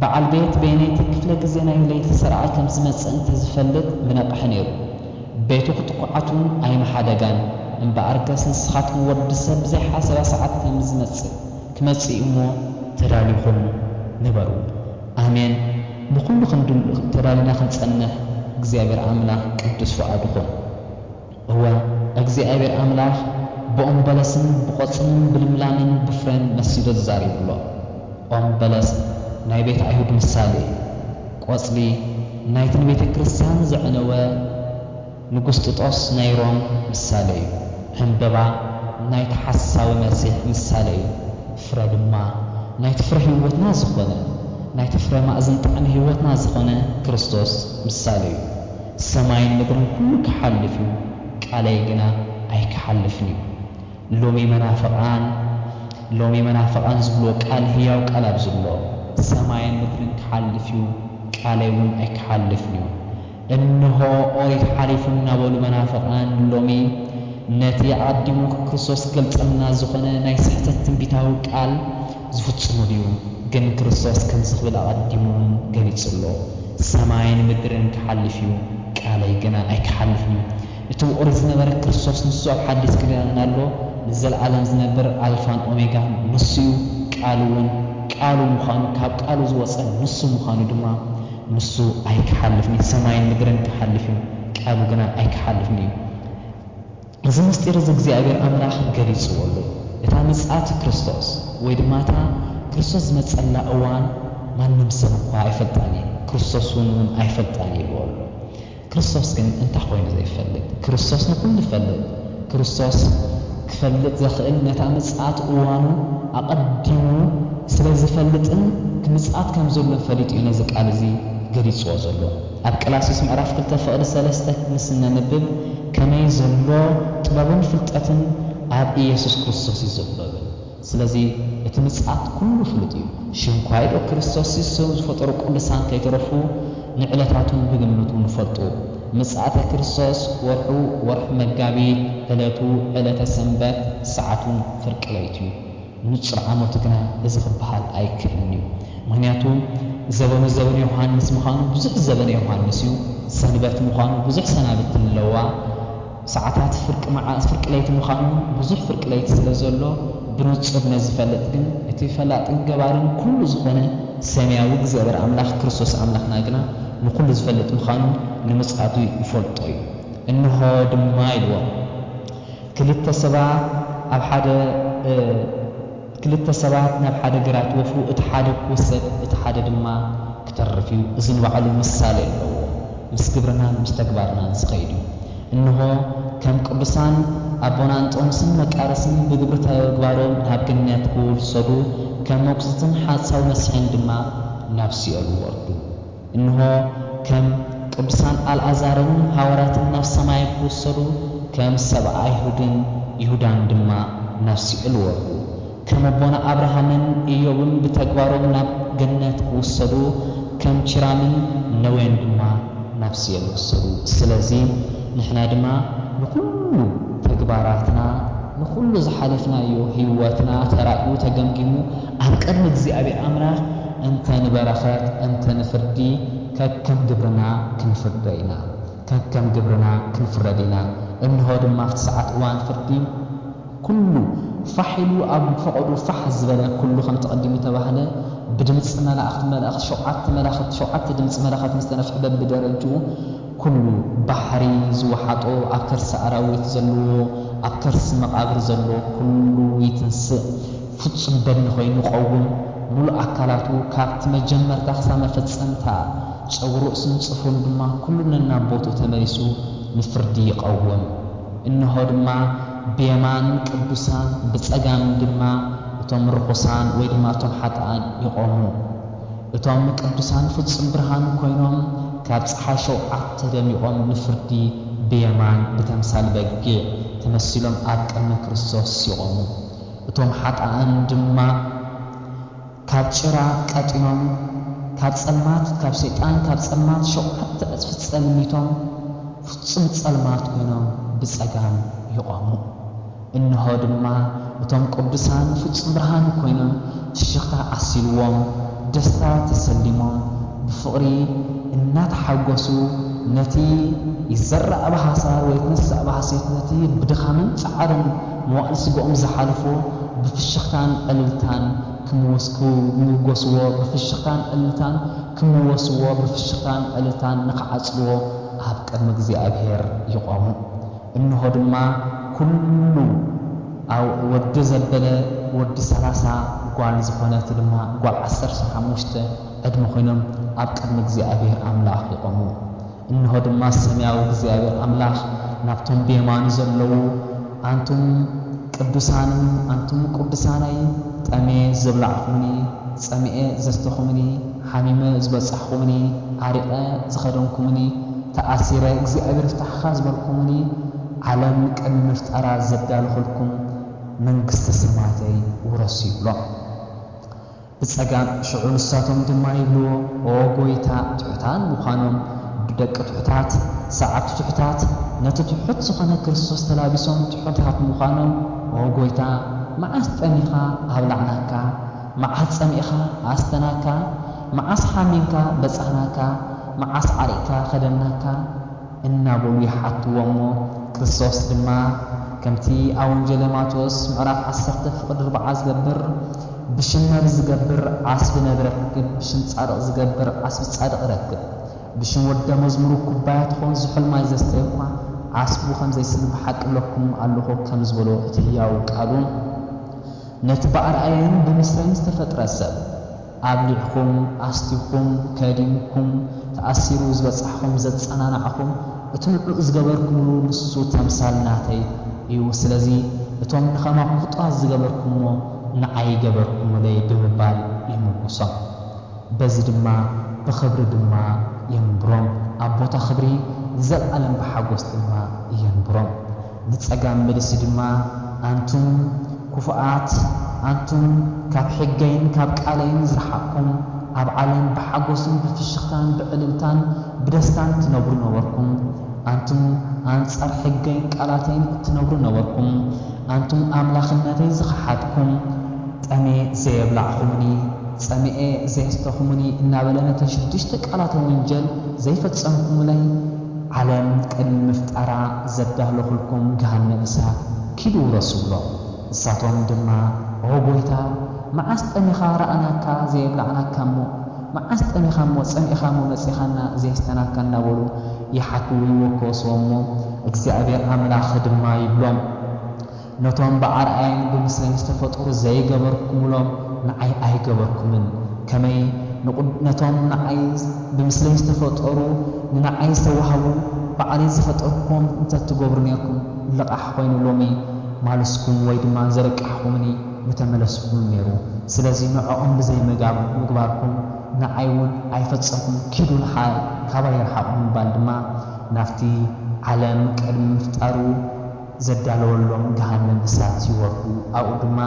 በዓል ቤት በየነይቲ ክፍለ ግዜ ናይ ለይቲ ሠራቒ ከም ዚመጽእ እንተ ዚፈልጥ ምነቕሐ ነይሩ፣ ቤቱ ኽትኰዓት'ውን ኣይምሓደጋን፣ እምበኣርከስ ንስኻትኩም ወዲ ሰብ ብዘይ ሓሰባ ሰዓት ከም ዚመጽእ፣ ክመጽእ እዩ እሞ፣ ተዳሊኹም ንበሩ። ኣሜን ንኩሉ ክንድሉ ተዳሊና ክንጸንሕ እግዚኣብሔር ኣምላክ ቅዱስ ፍቃዱ ኩን እወ እግዚኣብሔር ኣምላክ ብኦም በለስን ብቆጽልን ብልምላመን ብፍሬን መሲሉ ተዛሪቡ ኣሎ ኦም በለስ ናይ ቤት ኣይሁድ ምሳሌ እዩ ቆጽሊ ናይትን ቤተክርስትያን ዘዕነወ ንጉስጥጦስ ናይ ሮም ምሳለ እዩ። ዕምበባ ናይቲ ሓሳዊ መሲሕ ምሳለ እዩ። ፍረ ድማ ናይቲ ፍረ ህይወትና ዝኾነ፣ ናይቲ ፍረ ማእዝን ጣዕሚ ህይወትና ዝኾነ ክርስቶስ ምሳለ እዩ። ሰማይን ምድርን ኩሉ ክሓልፍ እዩ፣ ቃለይ ግና ኣይክሓልፍን እዩ። ሎሚ መናፍቓን ሎሚ መናፍቓን ዝብልዎ ቃል ህያው ቃል ኣብዚ ኣሎ። ሰማይን ምድርን ክሓልፍ እዩ፣ ቃለይ እውን ኣይክሓልፍን እዩ። እንሆ ኦሪት ሓሊፉ እናበሉ መናፍቃን ሎሚ ነቲ ኣቀዲሙ ክርስቶስ ክገልጸልና ዝኾነ ናይ ስሕተት ትንቢታዊ ቃል ዝፍጽሙ ድዩ ግን ክርስቶስ ከምዚ ክብል ኣቀዲሙ ውን ገሊጹ ኣሎ ሰማይን ምድርን ክሓልፍ እዩ ቃለይ ግና ኣይክሓልፍን እዩ እቲ ብኦሪት ዝነበረ ክርስቶስ ንሱ ኣብ ሓዲስ ክዳን ኣሎ ንዘልኣለም ዝነብር ኣልፋን ኦሜጋን ንሱ እዩ ቃል ውን ቃሉ ምዃኑ ካብ ቃሉ ዝወጸ ንሱ ምዃኑ ድማ ንሱ ኣይክሓልፍን እዩ፣ ሰማይን ምድርን ክሓልፍ እዩ፣ ቃሉ ግና ኣይክሓልፍን እዩ። እዚ ምስጢር እዚ እግዚኣብሄር ኣምላኽ ገሊጽዎ ኣሎ። እታ ምጽኣት ክርስቶስ ወይ ድማ እታ ክርስቶስ ዝመጸላ እዋን ማንም ሰብ እኳ ኣይፈልጣን እዩ፣ ክርስቶስ እውን እውን ኣይፈልጣን እዩ ኢልዎ ኣሎ። ክርስቶስ ግን እንታይ ኮይኑ ዘይፈልጥ? ክርስቶስ ንኹሉ ይፈልጥ። ክርስቶስ ክፈልጥ ዘኽእል ነታ ምጽኣት እዋኑ ኣቐዲሙ ስለ ዝፈልጥን ክምጽኣት ከም ዘሎን ፈሊጡ እዩ ነዚ ቃል እዚ ገሊጽዎ ዘሎ። ኣብ ቀላስዩስ ምዕራፍ ክልተ ፍቕዲ ሰለስተ ምስ እነንብብ ከመይ ዘሎ ጥበብን ፍልጠትን ኣብ ኢየሱስ ክርስቶስ እዩ ዘሎ ይብል። ስለዚ እቲ ምጽኣት ኩሉ ፍሉጥ እዩ። ሽንኳይዶ ክርስቶስ የሱስን ዝፈጠሩ ቅዱሳን ከይተረፉ ንዕለታቱን ብግምቱ ንፈልጡ። ምጽኣተ ክርስቶስ ወርሑ ወርሒ መጋቢት፣ ዕለቱ ዕለተ ሰንበት፣ ሰዓቱን ፍርቂ ለይቱ እዩ። ንጹር ዓመቱ ግና እዚ ክበሃል ኣይከእልን እዩ። ምክንያቱ ዘበኑ ዘበን ዮሃንስ ምዃኑ ብዙሕ ዘበነ ዮሃንስ እዩ፣ ሰንበት ምዃኑ ብዙሕ ሰናብቲ ኣለዋ፣ ሰዓታት ፍርቂ መዓልቲ ፍርቂ ለይቲ ምዃኑ ውን ብዙሕ ፍርቂ ለይቲ ስለ ዘሎ ብንጹር ነዚ ፈልጥ ግን እቲ ፈላጥን ገባርን ኩሉ ዝኾነ ሰሚያዊ እግዚኣብሔር ኣምላኽ ክርስቶስ ኣምላኽና ግና ንኹሉ ዝፈልጥ ምዃኑ ንምጽኣቱ ይፈልጦ እዩ እንሆ ድማ ኢልዎም ክልተ ሰባት ኣብ ሓደ ክልተ ሰባት ናብ ሓደ ግራት ይወፍሩ፣ እቲ ሓደ ክውሰድ እቲ ሓደ ድማ ክተርፍ እዩ። እዚ ንባዕሉ ምሳሌ ኣለዎ፣ ምስ ግብርናን ምስ ተግባርናን ዝኸይድ እዩ። እንሆ ከም ቅዱሳን ኣቦና እንጦንስን መቃርስን ብግብሪ ተግባሮም ናብ ገነት ክውሰዱ፣ ከም መጉስትን ሓጻዊ መሲሕን ድማ ናብ ሲኦል ይወርዱ። እንሆ ከም ቅዱሳን ኣልኣዛርን ሃዋርያትን ናብ ሰማይ ክውሰዱ ከም ሰብኣ ኣይሁድን ይሁዳን ድማ ናብ ሲኦል ወርዱ። ከም ኣቦና ኣብርሃምን እዮብን ብተግባሮም ናብ ገነት ክውሰዱ ከም ቺራምን ነዌን ድማ ናብ ሲኦል ክሰዱ። ስለዚ ንሕና ድማ ንኹሉ ተግባራትና ንኹሉ ዝሓለፍናዮ ህይወትና ተራእዩ ተገምጊሙ ኣብ ቅድሚ እግዚኣብሔር ኣምላኽ እንተ ንበረኸት እንተ ንፍርዲ ከከም ግብርና ክንፍደ ኢና ከከም ግብርና ክንፍረድ ኢና እንሆ ድማ ኣብቲ ሰዓት እዋን ፍርዲ ኩሉ ፋሕ ኢሉ ኣብ ፈቐድኡ ፋሕ ዝበለ ኩሉ ከምቲ ቀዲሙ እተባህለ ብድምጺ መላእክት መላእክት ሸውዓተ መላኸት ሸውዓተ ድምጺ መለኸት ምስ ተነፍሐ በብደረጅኡ ኩሉ ባሕሪ ዝወሓጦ ኣብ ከርሲ ኣራዊት ዘለዎ ኣብ ከርሲ መቓብር ዘሎ ኩሉ ይትንስእ ፍጹም በድኒ ኮይኑ ቀውም ምሉእ ኣካላቱ ካብቲ መጀመርታ ክሳብ መፈጸምታ ጸጉሪ ርእሱን ጽፍሩን ድማ ኩሉ ነናብ ቦትኡ ተመሊሱ ንፍርዲ ይቐውም። እንሆ ድማ ብየማን ቅዱሳን ብጸጋም ድማ እቶም ርኹሳን ወይ ድማ እቶም ሓጥኣን ይቖሙ። እቶም ቅዱሳን ፍጹም ብርሃን ኮይኖም ካብ ጸሓይ ሸውዓተ ደሚቖም ንፍርዲ ብየማን ብተምሳል በጊዕ ተመሲሎም ኣብ ቅድሚ ክርስቶስ ይቖሙ። እቶም ሓጥኣን ድማ ካብ ጭራ ቀጢኖም ካብ ጸልማት ካብ ሰይጣን ካብ ጸልማት ሸውዓተ ዕጽፊ ጸልሚቶም ፍጹም ጸልማት ኮይኖም ብጸጋም ይቖሙ። እንሆ ድማ እቶም ቅዱሳን ፍጹም ብርሃን ኮይኖም ፍሽኽታ ዓሲልዎም ደስታ ተሰሊሞም ብፍቕሪ እናተሓጎሱ ነቲ ይዘራእ ብሃሳር ወይትነሳእ ብሃሴት ነቲ ብድኻምን ጻዕርን መዋእል ስጋኦም ዝሓለፎ ብፍሽኽታን ዕልልታን ክምወስክምውገስዎ ብፍሽኽታን ዕልልታን ክምወስዎ ብፍሽኽታን ዕልልታን ንኽዓጽድዎ ኣብ ቅድሚ እግዚኣብሄር ይቖሙ እንሆ ድማ ኵሉ ኣው ወዲ ዘበለ ወዲ ሰላሳ ጓል ዝኾነት ድማ ጓል ዓሰርተ ሓሙሽተ ዕድመ ኮይኖም ኣብ ቅድሚ እግዚኣብሄር ኣምላኽ ይቖሙ እንሆ ድማ ሰማያዊ እግዚኣብሔር ኣምላኽ ናብቶም ብየማኑ ዘለዉ፣ ኣንቱም ቅዱሳንይ፣ ኣንቱም ቅዱሳነይ፣ ጠምየ ዘብላዕኹምኒ፣ ጸሚኤ ዘስተኹምኒ፣ ሓሚመ ዝበጻሕኹምኒ፣ ዓሪቐ ዝኸደንኩምኒ፣ ተኣሲረ እግዚኣብሔር ይፍታሕኻ ዝበልኩምኒ፣ ዓለም ቅድሚ ምፍጣራ ዘዳለኹልኩም መንግስተ ሰማያተይ ውረሱ ይብሎም። ብጸጋም ሽዑ ንሳቶም ድማ ይብልዎ ኦ ጎይታ ትሑታን ምዃኖም ብደቂ ትሑታት ሰዓብቲ ትሑታት ነቲ ትሑት ዝኾነ ክርስቶስ ተላቢሶም ትሑታት ምዃኖም ኦ ጎይታ መዓስ ጠሚኻ ኣብላዕናካ መዓስ ጸሚእኻ ኣስተናካ መዓስ ሓሚምካ በጻሕናካ መዓስ ዓሪቅካ ከደናካ እናበሉ ይሓትዎ እሞ ክርስቶስ ድማ ከምቲ ኣብ ወንጀለ ማቴዎስ ምዕራፍ ዓሰርተ ፍቅድ ርብዓ ዝገብር ብሽም ነብር ዝገብር ዓስቢ ነብር ረክብ ብሽም ጻድቅ ዝገብር ዓስቢ ጻድቅ ይረክብ ብሽም ወደ መዝሙሩ ኩባያ ትኾን ዝሑል ማይ ዘስተየ እኳ ዓስቡ ከምዘይስን ብሓቂ እብለኩም ኣሎኹ ከም ዝበሎ እቲ ህያው ቃሉ ነቲ ብኣርኣየን ብምስለን ዝተፈጥረ ሰብ ኣብሊዕኩም፣ ኣስቲኹም፣ ከዲምኩም፣ ተኣሲሩ ዝበጻሕኹም ዘጸናናዕኹም፣ እቲ ንዑ ዝገበርኩምሉ ንሱ ተምሳል ናተይ እዩ፣ ስለዚ እቶም ንኸማኹም ፍጡራት ዝገበርኩምዎ ንዓይ ገበርኩምለይ ብምባል ይምጉሶም። በዚ ድማ ብኽብሪ ድማ የንብሮም፣ ኣብ ቦታ ኽብሪ ንዘልኣለም ብሓጎስ ድማ የንብሮም። ንጸጋም መልሲ ድማ ኣንቱም ኩፉኣት ኣንቱም ካብ ሕገይን ካብ ቃለይን ዝረሓቅኩም ኣብ ዓለም ብሓጎስን ብፍሽኽታን ብዕልልታን ብደስታን ትነብሩ ነበርኩም ኣንቱም ኣንጻር ሕገይን ቃላተይን እትነብሩ ነበርኩም ኣንቱም ኣምላኽነተይ ዝኸሓድኩም ጠምየ ዘየብላዕኹሙኒ ጸሚኤ ዘየስተኹሙኒ እናበለ ነተን ሽዱሽተ ቃላተ ወንጀል ዘይፈጸምኩምለይ ዓለም ቅድሚ ምፍጣራ ዘዳለኹልኩም ገሃነብ እሳት ኪዱ ውረሱ ብሎም። ንሳቶም ድማ ኦ ጎይታ መዓስ ጠሚኻ ረኣናካ ዘየብላዕናካሞ መዓስ ጠሚኻሞ ጸሚእኻሞ መጺኻና ዘየስተናካ እናበሉ ይሓትዉ ይወከሱዎሞ እግዚኣብሔር ኣምላኽ ድማ ይብሎም ነቶም ብኣርኣያን ብምስለን ዝተፈጠሩ ዘይገበርኩምሎም ንዓይ ኣይገበርኩምን፣ ከመይ ነቶም ንዓይ ብምስለይ ዝተፈጠሩ ንንዓይ ዝተዋህቡ ባዕለይ ዝፈጠርኩዎም እንተ ትገብሩ ኔርኩም ልቓሕ ኮይኑ ሎሚ ማልስኩም ወይ ድማ ዘርቃሕኹምኒ ምተመለስኩምን ኔሩ፣ ስለዚ ንዖኦም ብዘይ ምግባርኩም ንዓይ ውን ኣይፈጸምኩምን ኪዱ ንሓይ ካባይ ርሓቑ ምባል ድማ ናብቲ ዓለም ቅድሚ ምፍጣሩ ዘዳለወሎም ገሃነም እሳት ይወርዱ፣ ኣብኡ ድማ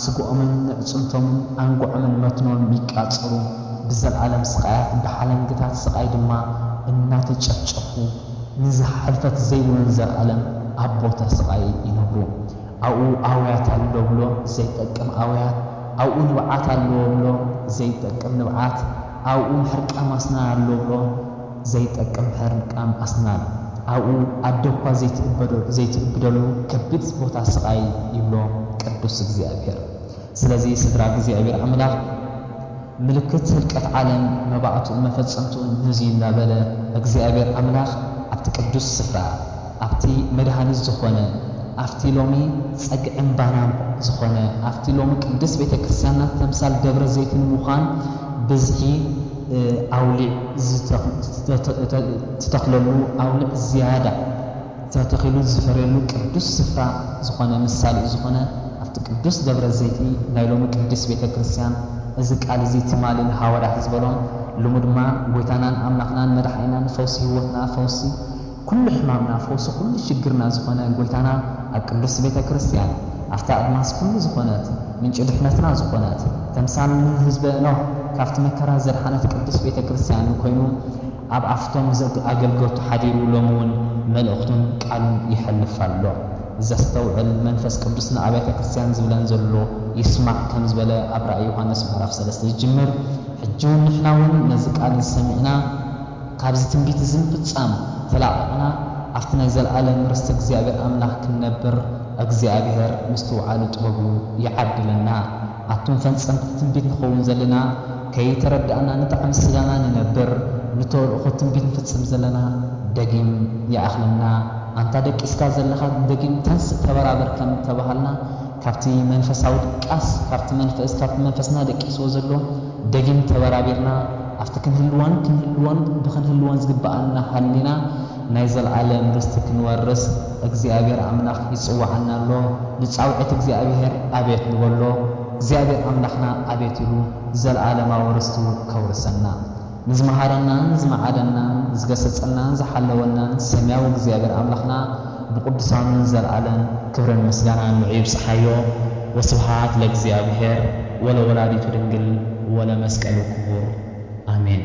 ስግኦምን ኣዕጽምቶምን ኣንጉዖምን መትኖን ይቃጸሉ፣ ብዘልኣለም ስቓያት ብሓለንግታት ስቓይ ድማ እናተጨፍጨፉ ንዝሓ ሕልፈት ዘይብሉን ዘልኣለም ኣብ ቦታ ስቓይ ይነብሩ። ኣብኡ ኣውያት ኣሎ ብሎ ዘይጠቅም ኣውያት፣ ኣብኡ ንብዓት ኣለዎ ብሎ ዘይጠቅም ንብዓት፣ ኣብኡ ምሕርቃም ኣስናን ኣሎ ብሎ፣ ዘይጠቅም ሕርቃም ኣስናን ኣብኡ ኣደኳ ዘይትእብደሉ ከቢድ ቦታ ስቓይ ይብሎ ቅዱስ እግዚኣብሔር። ስለዚ ስድራ እግዚኣብሔር ኣምላኽ ምልክት ህልቀት ዓለም መባእትኡን መፈጸምትኡን ነዙይ እናበለ እግዚኣብሔር ኣምላኽ ኣብቲ ቅዱስ ስፍራ ኣብቲ መድኃኒት ዝኾነ፣ ኣብቲ ሎሚ ጸግዕን ባናን ዝኾነ፣ ኣብቲ ሎሚ ቅድስት ቤተ ክርስቲያንና ተምሳል ደብረ ዘይት ንምዃን ብዝኂ ኣውሊዕ ዝተተኽለሉ፣ ኣውሊዕ ዝያዳ ተተኺሉ ዝፈርየሉ ቅዱስ ስፍራ ዝኾነ፣ ምሳሌኡ ዝኾነ ኣብቲ ቅዱስ ደብረ ዘይቲ ናይ ሎሚ ቅድስት ቤተ ክርስቲያን እዚ ቃል እዚ ትማሊ ንሓዋርያት ዝበሎም ልሙድማ ጐይታናን ኣምላኽናን መድኃኒናን ፈውሲ ሕይወትና ፈውሲ ኩሉ ሕማምና ፈውሲ ኩሉ ሽግርና ዝኾነ ጎይታና ኣብ ቅድስት ቤተ ክርስትያን ኣብታ ኣድማስ ኩሉ ዝኾነት ምንጪ ድሕነትና ዝኾነት ተምሳል ን ህዝበ ኖህ ካብቲ መከራ ዘድሓነት ቅድስት ቤተ ክርስትያኑ ኮይኑ ኣብ ኣፍቶም ኣገልገልቱ ሓዲሩ ሎሚ ውን መልእኽቱን ቃሉን የሕልፍ ኣሎ ዘስተውዕል መንፈስ ቅዱስ ን ኣብያተ ክርስትያን ዝብለን ዘሎ ይስማዕ ከም ዝበለ ኣብ ራእይ ዮሃንስ ምዕራፍ ሰለስተ ዝጅምር ሕጂ ውን ንሕና ውን ነዚ ቃል እዚ ሰሚዕና ካብዚ ትንቢት እዚ ምፍጻም ተላቒቕና ኣብቲ ናይ ዘለኣለም ርስቲ እግዚኣብሔር ኣምላኽ ክንነብር እግዚኣብሔር ምስትውዓሉ ጥበቡ ይዓድለና። ኣቱም ፈንጸምቲ ትንቢት ንኸውን ዘለና ከይተረዳእና ንጣዕሚ ስጋና ንነብር ንተልእኾ ትንቢት ንፍጽም ዘለና ደጊም ይኣኽለና ኣንታ ደቂስካ ዘለኻ ደጊም ተንስእ ተበራበር ከም እተባሃልና ካብቲ መንፈሳዊ ድቃስ ካብቲ መንፈስ ካብቲ መንፈስና ደቂስዎ ዘሎ ደጊም ተበራቢርና ኣብቲ ክንህልዎን ክንህልዎን ብክንህልዎን ዝግበኣና ሃሊና ናይ ዘልኣለም ርስቲ ክንወርስ እግዚኣብሔር ኣምላክ ይጽወዓና ኣሎ ንጻውዒት እግዚኣብሔር ኣቤት ንበሎ እግዚኣብሔር ኣምላክና ኣቤት ኢሉ ዘልኣለማዊ ርስቱ ከውርሰና ንዝመሃረናን ዝመዓደናን ዝገሰጸናን ዝሓለወናን ሰምያዊ እግዚኣብሔር ኣምላክና ብቅዱሳኑን ዘልኣለም ክብርን ምስጋናን ንዑ ይብጽሓዮ ወስብሃት ለእግዚኣብሔር ወለወላዲቱ ድንግል ወለመስቀሉ ክቡር ኣሜን።